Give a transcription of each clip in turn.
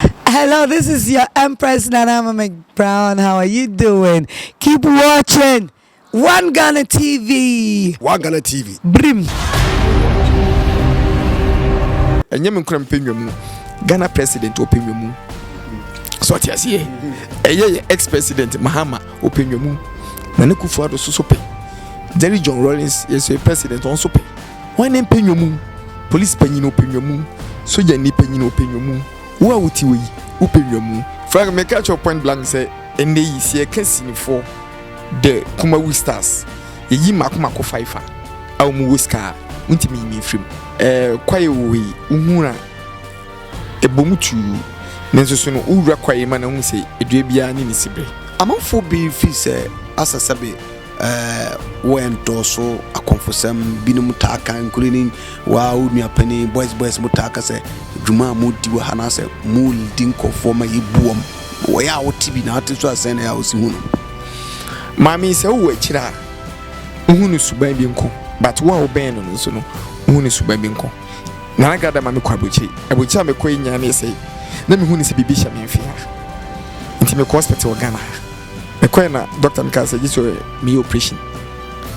Hello this is your empress Nana Mame Brown how are you doing keep watching One Ghana TV One Ghana TV Brim ɛnyɛ me nkora mpɛ nwamu ghana president ɔpɛ nwamu sɛ ɔte aseɛ ɛyɛ yɛ ex president mahama ɔpɛ nwamu na ne kufu ado so so pɛ jerry john rollins yɛsɛ president ɔn so pɛ Hwan ne mpanywa mu? Polisi panyin, ɔpɛ nnwa mu. Sogyanni panyin, ɔpɛ nnwa mu. Wo a wote hɔ yi, wopɛ nnwa mu? Frank, Mɛka akyerɛ wo point blank sɛ, ɛnnɛ yi, sɛ yɛka sinifoɔ, the Kumawu stars, yɛyi mmaako mmaako faifa a wɔwɔ sika a, wontumi nyi me mfiri mu. Eh, Kwaye Woe, wohuu a, ɛbɔ mu tuu. Nanso so no, wowura Kwaye ma no ahu sɛ dua biara ne ne siberɛ? Amanfoɔ bebree firi sɛ Asa Sabi. Wɔ ndɔɔso akɔmfosɛm, binom taa ka, nkurenyin, woaa wo nua panin, boys boys mo taa ka sɛ dwuma a modi wɔ ha anaasɛ mo lidi nkɔfoɔ ma yɛbu wɔn. Wɔ yɛ a wo te bi na ate so a sɛn na yɛ a wo si hu no. Maame yi sɛ wo wɔ akyire a wo hu no suban bi nko but wo a wo bɛn no no nso no wo hu no suban bi nko. Nana Gada ma me kɔ abrokyire, abrokyire a me kɔ yi nyaa me yɛ sɛ na me hu no sɛ biribi hyɛ me mfe ha nti me kɔ hospital wɔ Ghana ha. Mekɔe na dɔkta no kaa sɛ gye sɛ meyɛ oprehyɛn.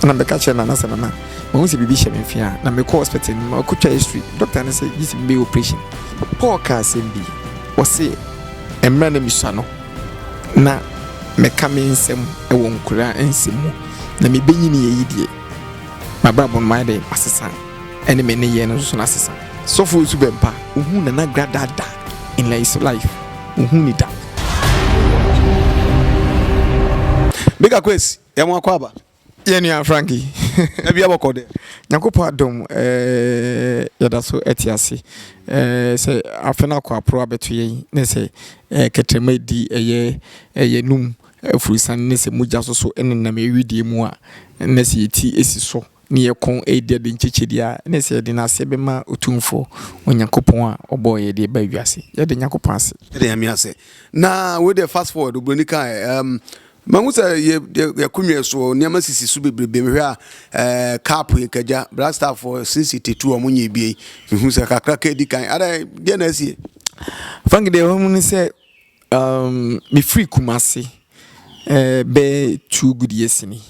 Ɛna mebɛka kyerɛɛ Nana sɛ, Nana, mahu sɛ biribi hyɛ me mfe a. Na mekɔɔ hospital no mu, na ɔkɔtwaa x-ray. Dɔkta no se gye sɛ mebɛyɛ oprehyɛn. Paul kaa asɛm bi. Ɔse, Mmerɛ a na mesua no, na meka me nsɛm wɔ nkwadaa nsɛm mu. Na mebɛnyiniiɛ yi deɛ, m'abrabɔ no mayɛ dɛ masesa, ɛne me nneyɛɛ no nso na asesa. Sɔfo Osu Bɛmpa, ohuu Nana Gradaa da in his life. Wohu ni da. Bika Kwesi, yɛ mo akɔ aba. Yɛ nua Franky. Da bia bɔkɔ dɛ. Nyankopɔn adom eh, yɛda so te ase eh, sɛ afe no akɔ aporo abɛto yɛn, ne sɛ eh, kɛtrɛma edi ɛyɛ eh, yɛnum afurusane ne sɛ mogya soso nenam yɛn wedeɛ mu a, ne sɛ yɛn ti si so ne yɛn kɔn redi ade nkyekye deɛ a, ɛne sɛ yɛde yɛn ase bɛma Otumfoɔ Onyankopɔn a ɔbɔɔ yɛn de reba wiase. Yɛda Onyankopɔn ase. Yɛda Nyame ase. Na wei deɛ fast forward, obroni kae, um, mahu sɛ yɛ, yɛ, yɛakonnwa so, nneɛma sisi so bebrebe. Mehwɛ a, eh, cap yɛ kagya. Black Star for since 82 a wɔn nyɛ bie. Mehu sɛ kakra ka edi kan. Adai, deɛ na asie? Frank deɛ wɔn mu ne sɛ, Um, mefiri Kumasi, eh, bɛyɛ two good years ni.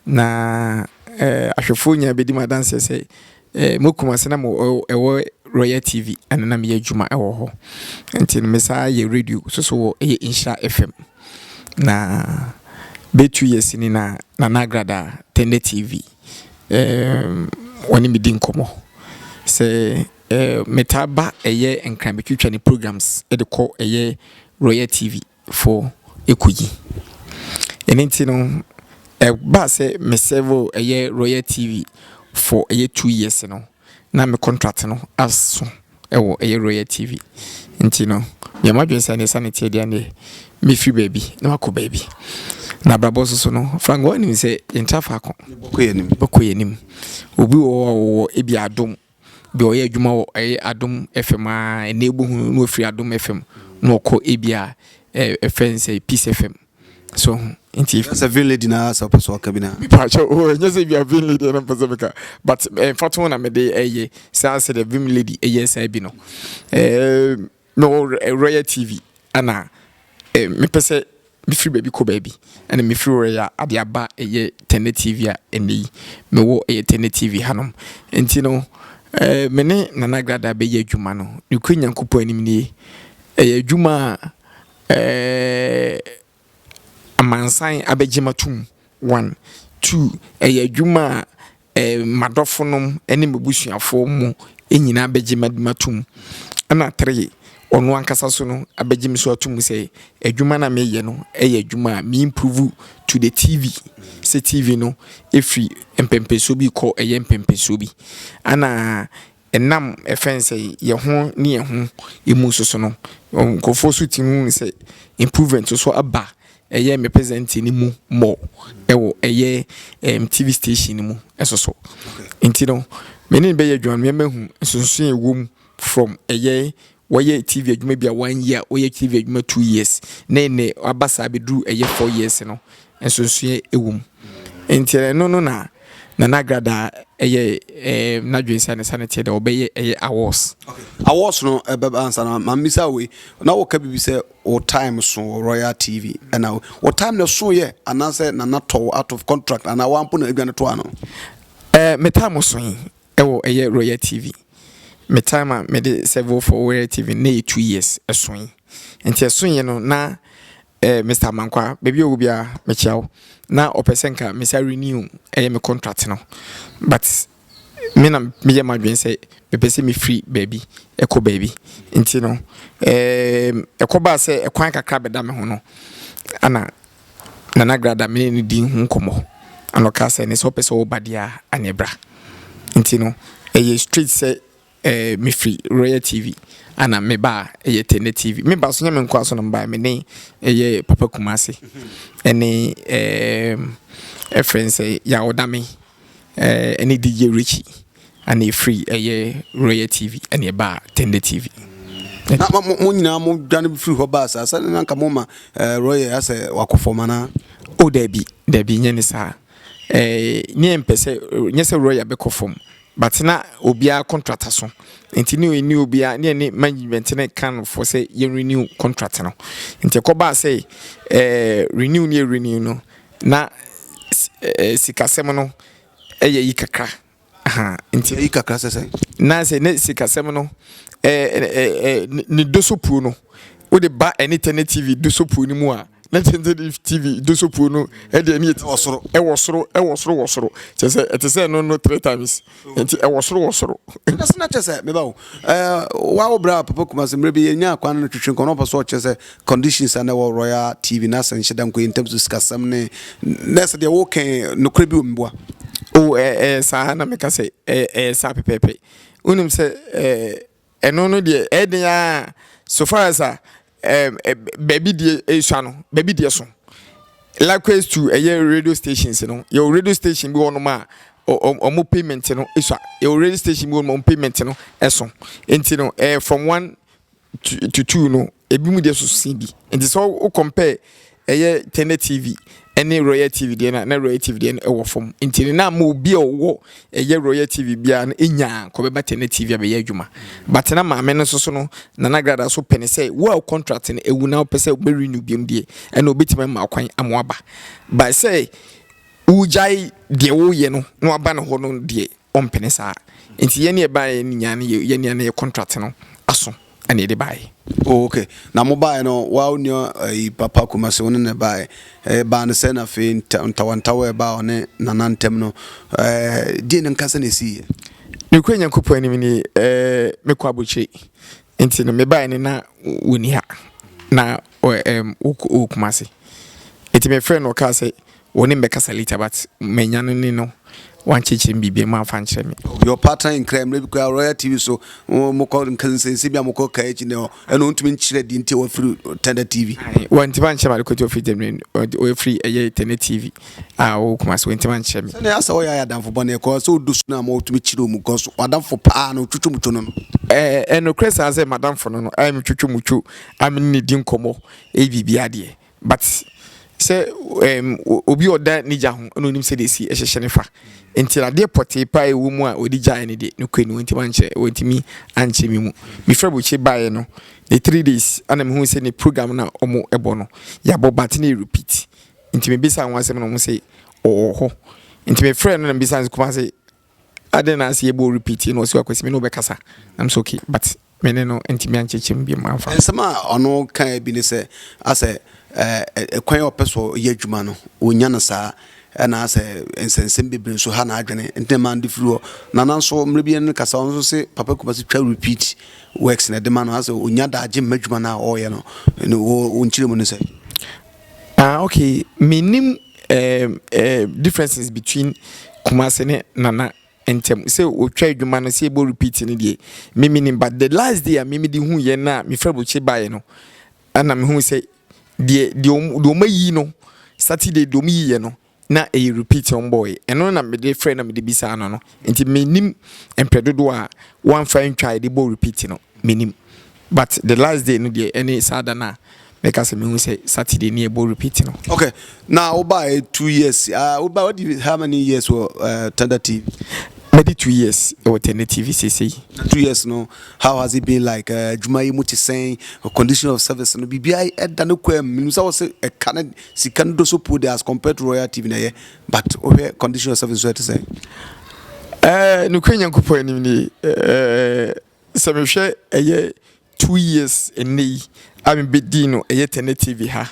Na eh, ahwɛfoɔ nyinaa bɛdi mu adanseɛ sɛ eh, mo Kumasi na mo ɛwɔ Royal TV ɛna na meyɛ adwuma ɛwɔ hɔ. Nti no mesaa yɛ radio soso wɔ ɛyɛ Nhyira FM. Na bɛyɛ two years ni na na nagrada Tende TV eh, wɔne me di nkɔmmɔ sɛ Metaa ba ɛyɛ nkran betwitwa ne programs de kɔ ɛyɛ Royal TV foɔ ɛkɔyi. Ɛno nti no ɛbaa sɛ me serve ɛyɛ Royal TV for ɛyɛ two years no na me contract no aso ɛwɔ ɛyɛ Royal TV. Nti no meyɛ m'adwene sɛ ɛneɛ sane teɛ deɛ ɛneɛ mɛfiri baabi na makɔ baabi. Na abrabɔ nso so no Frank woanim sɛ yɛntra faako. Bɛkɔ yɛnim. Bɛkɔ yɛnim. Obi wɔ hɔ a ɔwɔ ebi adom. Deɛ ɔyɛ adwuma wɔ ɛyɛ adom FM aa ɛnɛ wobohu no na wafiri adom FM na wakɔ ebia ɛfrɛn sɛ peace FM so wohu nti. Kyerɛ sɛ vin lady naa sɛ wopɛ sɛ ɔka bi naa. Me pa kyɛw oo ɛnyɛ sɛ ebia vin lady na mpɛ sɛ meka but mfatoho na mede ɛyɛ saa sɛdeɛ vim lady ɛyɛ saa bi no ɛɛm. Me wɔ Royal TV ɛna me pɛ sɛ me firi baabi kɔ baabi ɛna me firi Royal ade aba ɛyɛ Tɛnɛ TV a ɛnɛ yi me wɔ ɛyɛ Tɛnɛ TV ha nom nti no me ne Nana Agrada bɛ yɛ adwuma no nokore Nyankopɔn anim nie ɛyɛ adwuma a ɛɛ. Amansan abɛgye matom one two ɛyɛ adwuma a ɛɛ madɔfo nom ɛne m'abusuafoɔ mo nyinaa bɛgye matom ɛna three ɔno ankasa so no abɛgye me so atom sɛ adwuma no a meyɛ no ɛyɛ adwuma a me improve to the TV sɛ TV no ɛfiri mpɛnpɛnsoɔ bi rekɔ ɛyɛ mpɛnpɛnsoɔ bi ɛna. Ɛnam ɛfɛn sɛ yɛ ho ne yɛ ho ɛmu nso so no, nkorɔfoɔ nso tumi hu sɛ improvement nso so aba ɛyɛ me present no mu more ɛwɔ ɛyɛ ɛm TV station no mu ɛso so. Nti no, me ne no bɛyɛ adwuma no mɛma ahu nsonsonoɛ ɛwɔ mu from ɛyɛ wɔyɛ TV adwuma bi a one year wɔyɛ TV adwuma two years ne ne aba saa bɛduru ɛyɛ four years no nsonsoeɛ ɛwɔ mu nti ɛno no na Nana Agradaa ɛyɛ ɛɛ n'adwene sɛ ne sa ne teɛ dɛ ɔbɛyɛ ɛyɛ awards. awards no ɛbɛba ansa na maame bisa wei na wɔka biribi sɛ wɔ time so wɔ Royal TV ɛna wɔ time na so yɛ anaasɛ Nana tɔw out of contract anaa wɔampo na adwa no to ano. Ɛɛ me time so yi Ɛwɔ ɛyɛ royal TV me time a me de several for royal TV no na ɛyɛ two years ɛso yi nti ɛso yɛ no na eh Mister Amankwaa baabi a ɔwɔ bia me kyia wo na ɔpɛ sɛ nka me san renew ɛyɛ me contract no but me na me yɛ m'adwene sɛ me pɛ sɛ me firi baabi ɛkɔ baabi nti no eh ɛkɔ baa sɛ ɛkwan kakra bɛda me ho no ɛna Nana Grada me ne no dii ho nkɔmmɔ, ɛna ɔkaa sɛ, ɛnnɛ sɛ wopɛ sɛ woba deɛ a, ɛneɛ bra. Nti no, ɛyɛ straight sɛ eh, mefiri Royal TV, ɛna meba a, ɛyɛ Tɛnɛ TV. Meba nso, nyɛ me nko ara nso na mebaeɛ, me ne ɛyɛ Papa Kumase, ɛne eh, ɛfrɛ no sɛ Yaw Dame. Ɛne DJ Richie ɛna efiri ɛyɛ Royal TV ɛna ɛbaa Tender TV. Na mo mo nyinaa mo dwane firi hɔ baa saa sɛdeɛ na nka mo ma ɛɛ Royal asɛ wakɔ fam anaa? O dabi dabi nyɛ ne saa ɛɛ ne yɛn mpɛ sɛ nyɛ sɛ Royal bɛkɔ fam but na obiara contract aso nti ne ne obiara ne ne management ne kan no fo sɛ yɛn renew contract no nti ɛkɔ baa sɛ ɛɛ renew ne yɛ renew no Na sikasɛm no yɛ yi kakra ahaa nti. Yɛ yi kakra sɛ sɛn? Na sɛ ne sikasɛm no ne dosopuo no wode ba ɛne tɛnɛ TV dosopuo no mu a na tɛnɛ TV dosopuo no ɛde ɛne ɛte wɔ soro ɛwɔ soro ɛwɔ soro wɔ soro kyɛ sɛ ɛte sɛ no no three times. Nti ɛwɔ soro wɔ soro. Ɛna sɛ na kyerɛ sɛ meba o. Wawo berɛ a Papa Kumasi mmerɛ bi yɛnya akwan no twetwe nkɔmmɔ na ɔpɛ sɛ ɔkyerɛ sɛ conditions a na ɛwɔ Royal TV na sɛ nhyɛ da nkɔ in terms of sikasɛm ne na sɛ deɛ woka nokorɛ bi wɔ mu boa. O ɛyɛ saa na meka sɛ ɛyɛ saa pɛpɛɛpɛ. Wonim sɛ Ɛno no deɛ ɛyɛ den ara so far as a ɛɛm ɛ baabi deɛ esua no baabi deɛ so. Likewise to ɛyɛ radio stations no yɛwɔ radio station bi wɔ hɔnom a ɔ wɔn payment no esua. Yɛwɔ radio station bi wɔ hɔnom a wɔn payment no ɛso. Nti no ɛyɛ from one to to two no ebinom deɛ so sen bi. Nti sɛ wo compare Ɛyɛ Tende TV ne Royal TV deɛ no a, na Royal TV deɛ no wɔ fam. Nti no, na ama obi a ɔwɔ ɛyɛ Royal TV biara no nya a, nka ɔbɛba Tende TV abɛyɛ adwuma. But na maame no nso so no, Nana Gradah so pɛ no sɛ, wo a wo contract no awu na wopɛ sɛ wobɛ renew biom deɛ, ɛna ɔbɛtumi ama wo kwan ama woaba. But sɛ wogyae deɛ woreyɛ no na woaba ne hɔ no deɛ, ɔmpene saa nti yɛn ne ɛbaeɛ no nyinaa no yɛ yɛn nua no yɛ contract no aso ɛna yɛde baeɛ. Oh okay na mo baeɛ no wa wo nua ɛyi eh, papa Kumasi wo ne ne baeɛ ɛɛ eh, baa no sɛ na afei ntawantawa ɛbaa ɔne nana ntɛm no ɛɛ eh, die no nkasa na esi yɛ. Nukuri Nyankopɔn anim ni ɛɛ mekɔ abukyire nti no mebaeɛ no na wɔni ha na Ɔ ɛɛm wokɔ wɔ Kumasi. Enti me frɛɛ no ɔkaa sɛ wɔ ne mbɛkasa later but manya no ne no wankyerɛkyerɛ me biribiaa mu amfa ankyerɛ me. Ɔyɛ ɔpaatan nkran, mmerɛ bi koraa Royal TV so mokɔ nsɛnsɛm bi a mokɔ kaa akyi no ɛna ɔntumi nkyerɛ deɛ nti a wafiri Tɛnda TV. Ae wantim ankyerɛ me adekoto ɔfiri Germany ɔde ɔfiri ɛyɛ Tɛnda TV a ɔwɔ Kumasi wantim ankyerɛ me. Sɛdeɛ asɛ ɔyɛ ayɛ adamfo bɔne ɛkɔ sɛ ɔdɔ su no ama ɔtumi kyere ɔmu cos w'adamfo paa no twotwo mutwo no no. Ɛɛ ɛyɛ nokorɛ saa sɛ m'adamfo no no ayɛ me twotwo mutwo. a me ne no di nkɔmmɔ yɛ biribiara deɛ but sɛ ɛɛm obi a ɔda ne gya ho na onim sɛdeɛ esi hyehyɛ ne fa nti adeɛ pɔtee paa ɛwɔ mu a ɔde gyaeɛ no deɛ nokorɛ ni wɔntumi ankyɛ wɔntumi ankyɛ me mu mefiri abɔkyire baeɛ no ne three days ɛna mehu sɛ ne program na wɔn ɛbɔ no yɛabɔ but na yɛ repeat nti mebisa wɔn asɛm na wɔn sɛ ɔwɔ hɔ nti mefrɛ no na mebisa no sɛ Kumase Adɛn na ase yɛbɔ repeat yi na ɔsi akwasi me ne wobɛkasa I'm so okay but me ne no ntumi ankyekyɛ mu biom amfa. Nsɛm a ɔno kae bi ne sɛ asɛ ɛkwan a ɔpɛ so yɛ adwuma no ɔnya no saa ɛna asɛ nsɛnsɛm bebree nso ha n'adwene nti na mande firi hɔ na nanso mmerɛ bi no kasa ɔno nso se papa Kumasi twa repeat works na ɛde ma no asɛ ɔnya daagye mma adwuma no a ɔreyɛ no ne wo nkyerɛ mu ne sɛ. Ah ok mennim ehm eh differences between Kumasi ne Nana ntɛm sɛ ɔtwa adwuma no sɛ yɛbɔ repeat no deɛ me mennim but the last day a me mede hu yɛ no a me frɛ Bukye baeɛ no ɛna me hu sɛ deɛ deɛ wɔn ayi no Saturday deɛ wɔn yi yɛ no na ɛyɛ repeat wɔn bɔɔe. Ɛno na mede frɛ na mede bisaa no no. Nti menim mprɛ dodoɔ a wɔamfa antwa a yɛde bɔ repeat no, menim. But the last day no deɛ ɛne saa da no a mɛka sɛ mehu sɛ Saturday ne yɛbɔ repeat no. Okay, na wobaeɛ two years. Uh, wobaeɛ wadi how many years wɔ uh, Thunder TV? Madi two years wɔ Thunder TV sesei. Na two years no, how has it been like? Adwuma uh, yi mu te sɛn? Condition of service no, biribiara ɛda no kɔ mu. Menim sɛ wɔ sɛ ɛka no Sika no dɔ so puo de as compared to royal TV na ɛyɛ but wohwɛ condition of service nso ɛte sɛn? Ɛɛ nokorɛ Nyankopɔn anim ni ɛɛ sɛ mehwɛ ɛyɛ two years ɛnɛ yi a mebɛdii no ɛyɛ Tɛnɛ TV ha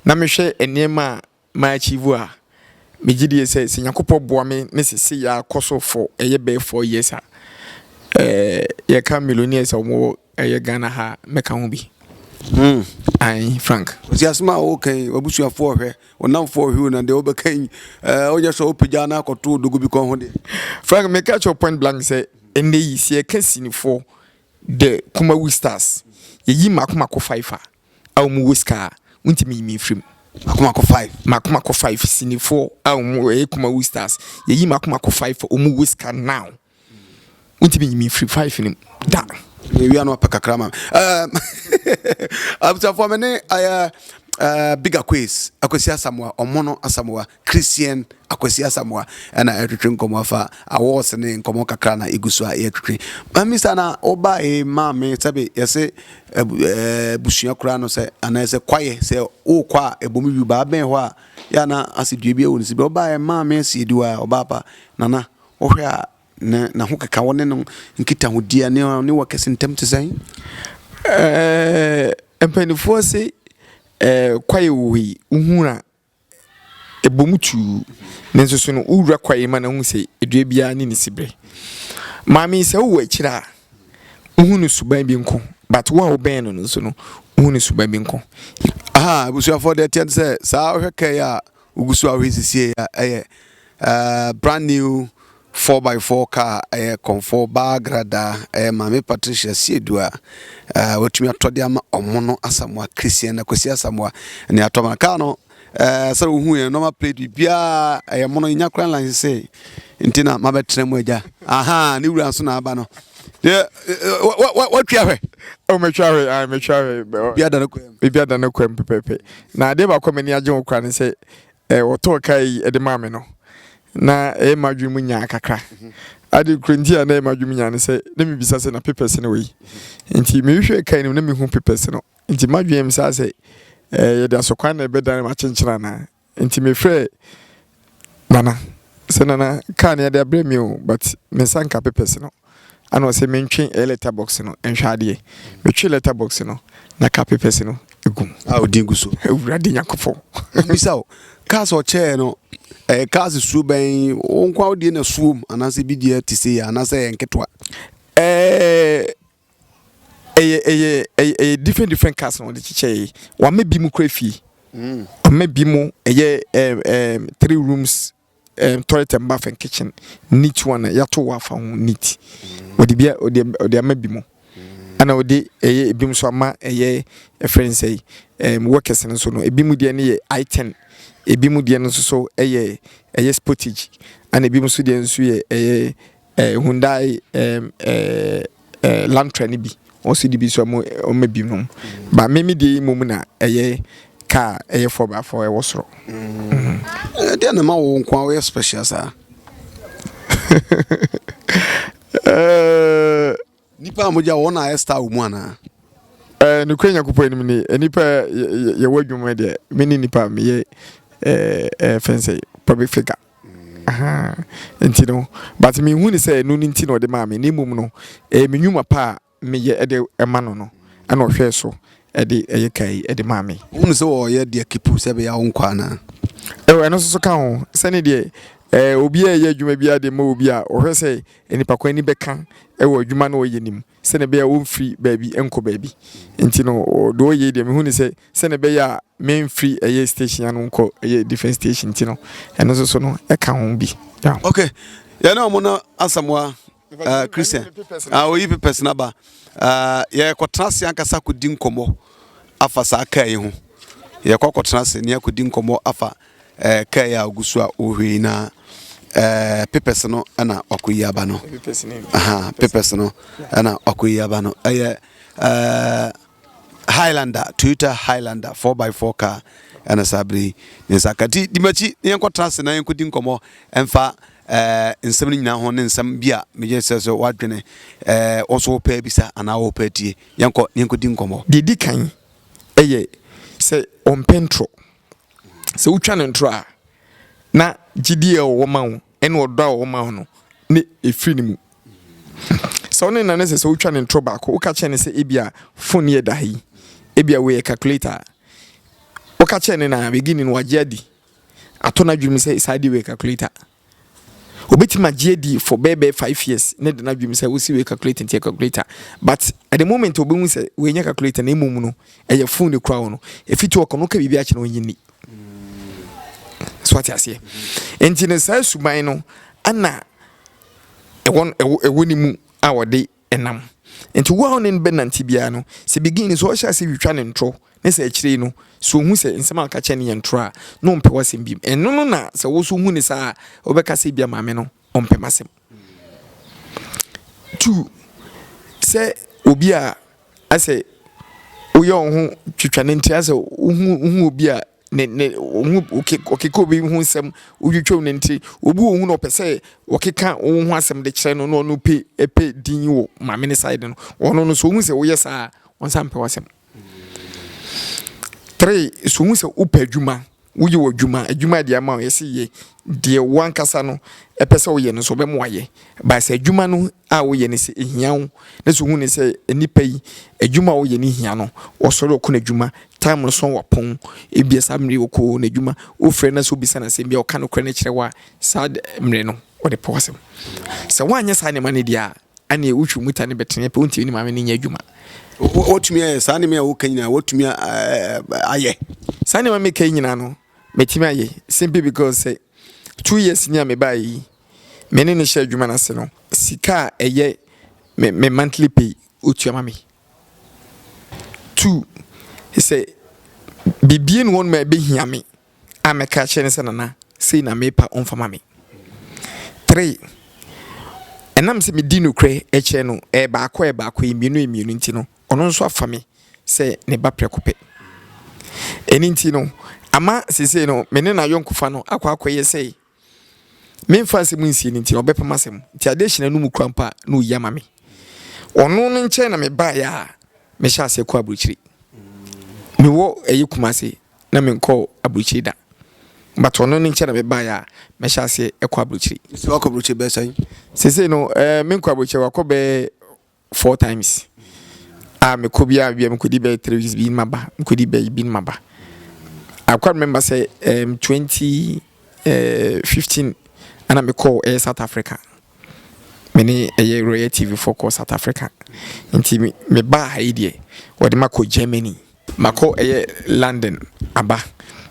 na mehwɛ nneɛma a ma achieve a megye die sɛ sɛ Nyankopɔn boa me ne sese yɛ akɔ so for ɛyɛ bɛyɛ four years a ɛɛ yɛka millionaires a wɔwɔ Ɛyɛ Ghana ha mɛka ho bi. Hmm. Ae, Frank. Ɔsi asɛm a ɔreka yi, w'abusuafoɔ ɔhwɛ, ɔnamfoɔ ɔhwɛ o, na deɛ ɔbɛka yi, ɛɛ ɔnyɛ sɛ ɔpagya na akɔto odogo bi kɔn ho deɛ. Frank, meka kyerɛ point blank sɛ, ɛnɛ yi, sɛ yɛka sinifoɔ, the Kumawu stars, yɛyi mako mako five a, a wɔn wɔ sika a, wontumi nyi me mfiri mu. Mako mako five. Mako mako five sinifoɔ a wɔn ɛyɛ Kumawu stars, yɛyi mako mako five a wɔn wɔ sika now. Wontumi nyi me firi five no mu da. Yɛwia no apɛ kakra ma abusuafoɔ me ne ayɛ Big Akwes Akwasi Asamoah Ɔmono Asamoah Christian Akwasi Asamoah ɛna ɛtwetwe nkɔmɔ afa awards ne nkɔmɔ kakra na egu so a yɛtwetwe mamisa na ɔba e maame sɛbe yɛse abusua koraa no sɛ anaasɛ kwaeɛ sɛ wokɔ a ɛbom yu baa bɛn hɔ a yɛ na ase dua bi ɛwɔ ne si bɛ ɔba e maame asi ediwa ɔba apa nana Wohwɛ a, na n'ahokeka, wo ne no nkitahodie a, na ɔne wo akɛse ntam te sɛn? Ɛɛ mpanimfoɔ se ɛɛ kwaeɛ wɔ hɔ yi, wohu a, ɛbɔ mu tuu. Nanso so no, wowura kwaeɛ mu a, na wohu sɛ dua biara ne ne siberɛ. Maame, sɛ wowɔ akyire a, wohu ne suban bi nko. But wo a wobɛn no no nso no, wohu ne suban bi nko. Ahaa abusuafoɔ, deɛ ɛteɛ ne sɛ, saa wohwɛ kaa yi a, Wogu so ara resiesie a, ɛyɛ uh, brand new 4x4 car, ɛyɛ kɔnfɔɔ baa gradaa, ɛyɛ Maame Patricia Siedu a uh, watumi atɔ de ama ɔmo no Asamoah Christian na Kwesi Asamoah ne atɔ ma kaa no uh, sɛ wohu yɛn nɔma plate biribiara ɛyɛ mo no nya kora line sɛ nti na mabɛtena mu agya aha ne wura nso na aba no watwa hwɛ ɔmatwa hwɛ a matwa hwɛ biribiara da no kwam biribiara da no kwam pɛpɛpɛ Na adeɛ baako a m'ani agye ho koraa ne sɛ eh, wɔtɔɔ kaa yi de maa me no, na ɛyɛ m'adwene mu nyaa kakra. Ade koro nti a na ɛyɛ m'adwene mu nyaa ne sɛ, na mebisa sɛ na papers no wɔ yi. Nti mehwehwɛɛ kaa no mu na mehu papers no. Nti m'adwene yam saa sɛ, eh, yɛde asɔkwan na ɛbɛdan m'akyenkyene anaa? Nti mefrɛɛ Nana, Sɛ Nana, kaa no yɛde abrɛ me o but me nsa nka papers no ana ɔsɛ me ntwe ɛyɛ letter box no nhwɛ adeɛ. Me twe letter box no na ka papers no gu mu. A ɔdin gu so. Awurade Nyankopɔn. Me bisa o, cars ɔkyɛɛ no ɛyɛ cars suo bɛn, wo nkoa wo deɛ na suom anaasɛ bi deɛ te sei anaa sɛ ɛyɛ nketewa? Ɛɛ. ɛyɛ ɛyɛ ɛyɛ ɛyɛ different different cars na wɔde kyekyɛ yi wɔama bi mu kura fie mm. wɔama bi mu ɛyɛ ɛɛ ɛɛ three rooms ɛɛ toilet and bath and kitchen neat one a yɛato wɔ afa ho neat mm. wɔde bi wɔde wɔde ama bi mu mm. ɛna wɔde ɛyɛ ebi mu nso ama ɛyɛ ɛfrɛ nsɛ yi ɛɛ workers no nso no ebi mu deɛ no yɛ i ten ebi mu deɛ no nso so ɛyɛ ɛyɛ sportage ɛna ebi mu nso deɛ nso yɛ ɛyɛ. eh, Hyundai eh, eh, eh, Lantra no bi ɔsi de bi nso ɔmo ɔmo bi nom ba me me deɛ mmom na ɛyɛ kaa ɛyɛ four by four ɛwɔ soro. ɛdeɛ na ma wo nko a woyɛ special saa. Eh, Nnipa a mogya wɔ hɔ no na ayɛ star wɔ mu anaa? Eh, nokorɛ Nyankopɔn anim ni, nnipa a yɛwɔ adwuma mu deɛ, me ne nnipa a meyɛ eh, eh, fɛn sɛ public figure. Ahaa, nti no, but me hu ne sɛ ɛno nti na ɔde maa me, ne mmom no, eh, me nwuma pa a meyɛ ɛde ɛma no no, ɛna ɔhwɛɛ so ɛde ɛyɛ ka yi ɛde maa me. Wohunu sɛ ɔyɛ deɛ kipu sɛ ɛbɛyɛ a wonkɔ anaa? Eh, ɛno nso so ka ho, sɛne deɛ eh, obi a ɛyɛ adwuma biara de ma obi a ɔhwɛ sɛ Nnipa kwan ani bɛka wɔ adwuma no a ɔyɛ no mu sɛnea ɛbɛyɛ a ɔmfiri baabi nkɔ baabi. Nti no, deɛ ɔyɛ yi deɛ mehu no sɛ sɛnea ɛbɛyɛ a memfiri ɛyɛ station ano nkɔ ɛyɛ different station nti no, ɛno nso so no ɛka ho bi. Yeah. Okay, yɛne ɔmo no Asamoa uh, Christian uh, oyi pepɛs no aba uh, yɛkɔtena ase ankasa kɔdi nkɔmmɔ afa saa kaa yi ho yɛkɔ akɔtena ase ne akɔdi nkɔmmɔ afa Ɛɛ car yi a ogu so a ɔrehwɛ yi na ɛɛ papers no ɛna wakɔyi aba no aha papers no ɛna wakɔyi aba no ɛyɛ ɛɛ highlander toyota highlander four by four car ɛna saa bere yi ne nsa ka ti dimakyi ne yɛnkɔ tena ase na yɛnkɔ di nkɔmɔ ɛnfa ɛɛ nsɛm no nyinaa ho ne nsɛm bi a megye sɛ sɛ wadwene ɛɛ wɔso wɔpɛ bisa anaa wɔpɛ tie yɛnkɔ ne yɛnkɔ di nkɔmɔ. deɛ di kan ɛyɛ sɛ ɔmpɛ ntorɔ. Sɛ wotwa no ntorɔ a, na gyidie a ɔwɔ ma wo ne ɔdɔ a ɔwɔ ma wo no ne ɛfiri ne mu. Sɛ wo ne nana sɛ sɛ wotwa ne ntorɔ baako, woka kyerɛ ne sɛ ebia fon yɛ da ha yi, ebia wei yɛ calculator a, woka kyerɛ ne na beginning no wagye adi, ato n'adwene mu sɛ saa deɛ wei yɛ calculator. Obi tumi agye adi for bɛyɛ bɛyɛ five years ne de n'adwene sɛ wosi wei calculator nti yɛ calculator but at the moment obi hu sɛ wei nyɛ calculator na mmom no ɛyɛ phone ne kura wo no efi to ɔkɔ no ka biribi akyɛ no ɔnyi ni so ate aseɛ nti no saa suban no ɛna ɛwɔ ɛwɔ ne mu a wɔde nam. Enti wo a wo ne no bɛnante biara no, sɛ begin no, sɛ ɔhyɛ ase twitwa ne ntorɔ, ne sɛ akyire yi no, sɛ ɔhu sɛ nsɛm a ɔka kyerɛ no yɛ ntorɔ a, na ɔmpɛ w'asɛm bio. Ɛno no na sɛ wo nso hu no saa a, wobɛka sɛ ebia maame no ɔmpɛ m'asɛm. Two, sɛ obi a asɛ woyɛ wo ho twitwa ne nti asɛ wohu wohu obi a ne ne wɔn ho ɔkeka obi ho nsɛm wotwitwam no nti obi wɔ hu na ɔpɛ sɛ ɔkeka wo ho asɛm de kyerɛ no na ɔno pe ɛpɛ din wɔ maame ne side no ɔno no so ohun sɛ woyɛ saa wɔn nsa mpɛ w'asɛm three so ohun sɛ wopɛ adwuma woyɛ wɔ adwuma adwuma deɛ ama yɛsi yɛ deɛ wankasa no ɛpɛ sɛ ɔyɛ no so ɔbɛmo ayɛ baasa adwuma no. a woyɛ no sɛ ehia wo na sɛ wohu no sɛ nnipa yi adwuma a wɔyɛ no hia no wɔsɔre wɔkɔ n'adwuma time no so wɔpɔn ebia saa mmere wɔkɔ n'adwuma wofrɛ na sɛ wobisa no asɛm bi a ɔka nokorɛ no kyerɛ wo a saa mmere no wɔde pɛ w'asɛm sɛ woanyɛ saa nneɛma no deɛ a ɛne wotwi mu ta ne bɛtene pɛ wontumi ne maame no nyɛ adwuma wɔtumi ayɛ saa nneɛma a woka nyinaa wɔtumi ayɛ saa nneɛma meka nyinaa no mɛtumi ayɛ simply because sɛ two years ni a mebaeɛ yi me ne no hyɛ adwuma no ase no, sika a ɛyɛ me me monthly pay ɔtua ma me. Two, sɛ biribi ne hɔnom a ɛbɛhia me a mɛka akyerɛ no sɛ nana sei na mepa ɔmfa ma me. Three, ɛnam sɛ medi nokorɛ kyerɛ no ɛyɛ baako ɛyɛ baako ɛyɛ mmienu ɛyɛ mmienu nti no ɔno nso afa me sɛ ne ba prɛko pɛ. Ɛno nti no ama seesei no me ne n'ayɔnkofa no akɔ akɔyɛ sɛ memfa asɛm nsie no nti na ɔbɛpam asɛm nti adesina no mu kura mpo a na ɔyi ama me ɔno no nkyɛn na mebaeɛ a mehyɛ aseɛ kɔ aburokyire mewɔ ɛyɛ kuma ase na menkɔ aburokyire da but ɔno no nkyɛn na mebaeɛ a mehyɛ aseɛ kɔ aburokyire sɛ wakɔ aburokyire bɛsɛn sesei no eh, menkɔ aburokyire wakɔ bɛɛ four times a ah, mekɔ biara bia mekɔdi bɛyɛ three weeks bi maba mekɔdi bɛyɛ bi maba I quite remember sɛ um, 2015 eh, ana mekɔɔ ɛyɛ eh, South Africa mene ɛyɛ eh, Royal TV foɔ kɔɔ South Africa nti mebaa ha yi deɛ wɔde makɔ Germany Makɔ ɛyɛ London aba.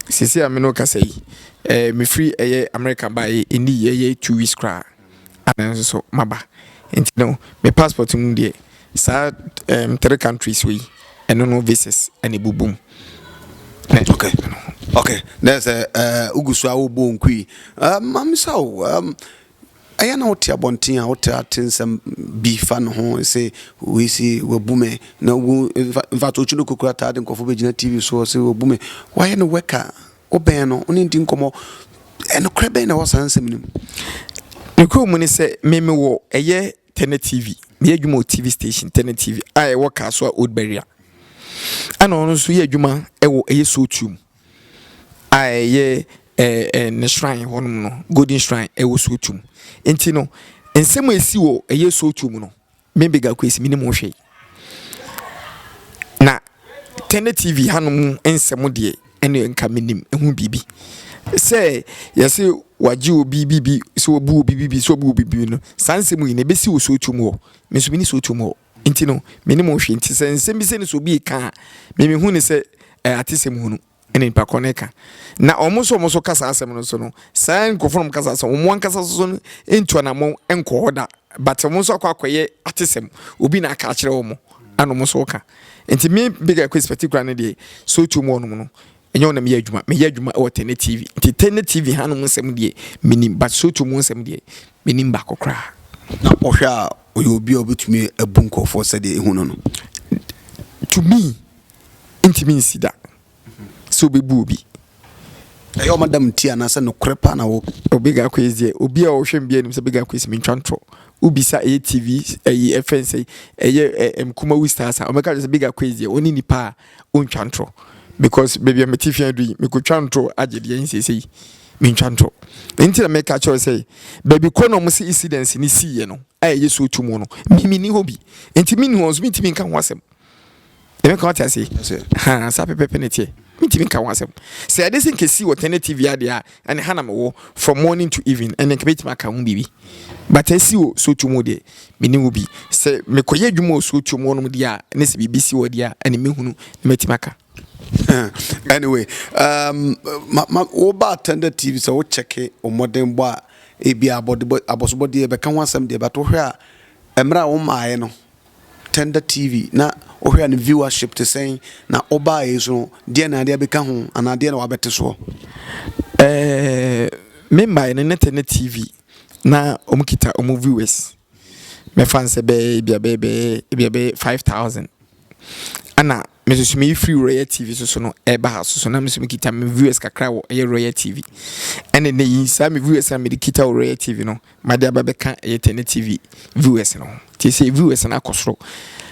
Seesei a me ne wo kasa yi, eh, mefiri ɛyɛ America baeɛ ɛnni ɛyɛ two weeks koraa a nanso so maba. Nti no, me passport mu deɛ, saa, ehm, three countries wei, ɛno no visas na ɛbobɔ mu. Na. Ok, ok, na ɛyɛ sɛ, eh, wogu so ara wobɔ wo nku yi. Eh, ma memmisa wo, ehm, Ɛyɛ na wote abɔnten a, wotaa te nsɛm bi fa ne ho sɛ wei se wabu me na wo mfato okyi no kokura taa de nkurɔfo bɛgyina TV so sɛ wabu me. Wayɛ no wɛka, wobɛn no, wone di nkɔmmɔ. Ɛnokorɛ bɛn na ɛwɔ saa nsɛm no mu? Nokorɛ mu ne sɛ, me mewɔ ɛyɛ Tɛnɛ TV, meyɛ adwuma wɔ TV station Tɛnɛ TV a ɛwɔ Kasoa Old Barrier. Ɛna ɔno nso yɛ adwuma wɔ ɛyɛ Sotu mu. a ɛyɛ ɛɛ ɛɛ ne shrine hɔnom no, Golden Shrine ɛwɔ Sotum. Nti no, nsɛm a ɛsi wɔ ɛyɛ Sotum no, me Bega Kwesi menim ho hwee. Na Tɛnɛ TV hanom nsɛm deɛ, ɛne nka menim ho biribi. Sɛ yɛse wɔagye obi bi bi, sɛ wɔabu obi bi bi, sɛ wɔabu obi bi bi no, saa nsɛm nyinaa ɛbɛsi wɔ Sotum hɔ. Me nso mene Sotum hɔ. Nti no, me ne mo nhwɛ. Nti sɛ nsɛm bi sɛ no sɛ obi reka a, me mehu no sɛ ɛyɛ atesɛm hunu na nipa korɔ no reka. Na wɔn nso wɔn nso ka saa asɛm no nso no, saa nkorɔfoɔ no wɔn ka saa asɛm, wɔn ankasa nso so no ntu anamɔn nkɔ hɔ da, but wɔn nso akɔ akɔyɛ atesɛm, obi na aka akyerɛ wɔn, ɛna wɔn nso reka. Nti me bigger question particular no deɛ, sɛ otuo mu hɔ nom no, Ɛnyɛ wo na meyɛ adwuma, meyɛ adwuma wɔ Tene TV. Nti Tene TV hanom nsɛm deɛ, menim, but Soto mu nsɛm deɛ, menim baako koraa. Na wohwɛ a, ɔyɛ obi a ɔbɛtumi abu nkurɔfoɔ sɛdeɛ ɛhu no no? To me, ntumi nsi da sɛ ɔbɛbu obi. ɛyɛ ɔma dam nti anaasɛ nokorɛ paa na wɔka Obega Quays deɛ obi a ɔhwɛ me bi anim sɛ Obega Quays mentwa ntorɔ wobisa ɛyɛ TV ɛyi ɛfɛn sɛ ɛyɛ ɛ Nkumawu Stars a wɔbɛka kyerɛ sɛ Obega Quays deɛ ɔne nipa a ɔntwa ntorɔ because baabi a mete fia dui mekɔtwa ntorɔ agye deɛ ɛn seesei mentwa ntorɔ nti na meka kyerɛ sɛ baabi kɔ na ɔmo se incidents ne siiɛ no a ɛyɛ so tu mu no memeni hɔ bi nti menni hɔ nso mentumi nka ho asɛm ɛmɛka wate ase ha saa pɛpɛpɛ ne teɛ mentumi nka ho asɛm sɛ ɛde se nkɛsi wɔ tɛnɛ tv adeɛ a ɛne ha na mewɔ from morning to evening ɛne nka mɛtumi aka ho biribi but asi wɔ sotuo mu deɛ mene wo bi sɛ mekɔyɛ adwuma wɔ sotuo mu ɔnom deɛ a ne sɛ biribi si wɔ deɛ a ɛne mɛhunu na mɛtumi aka anyway um, ma, ma, woba attended tv sɛ wokyɛke ɔmmɔdenbɔ a ebi abɔsobɔdeɛ bɛka ho asɛm deɛ but wohwɛ a mmerɛ a womaeɛ no Tender TV na wohwɛ a ne viewership te sɛn? Na wobaeɛ yi so no, deɛn na wode abɛka ho anaa deɛn na wabɛte soɔ? Eh, me mbaeɛ no ne Tender TV na wɔn kita wɔn viewers. Mɛfa no sɛ bɛyɛ ebia bɛyɛ bɛyɛ ebia bɛyɛ five thousand. Ɛna Me nso so meyɛ firi Royal TV so so no ɛba ha so so na me nso mekita me viewers kakra wɔ ɛyɛ Royal TV ɛne ne yi saa me viewers na mede kita wɔ Royal TV no made aba bɛka ɛyɛ Tene TV viewers no ho nti sɛ viewers no akɔ soro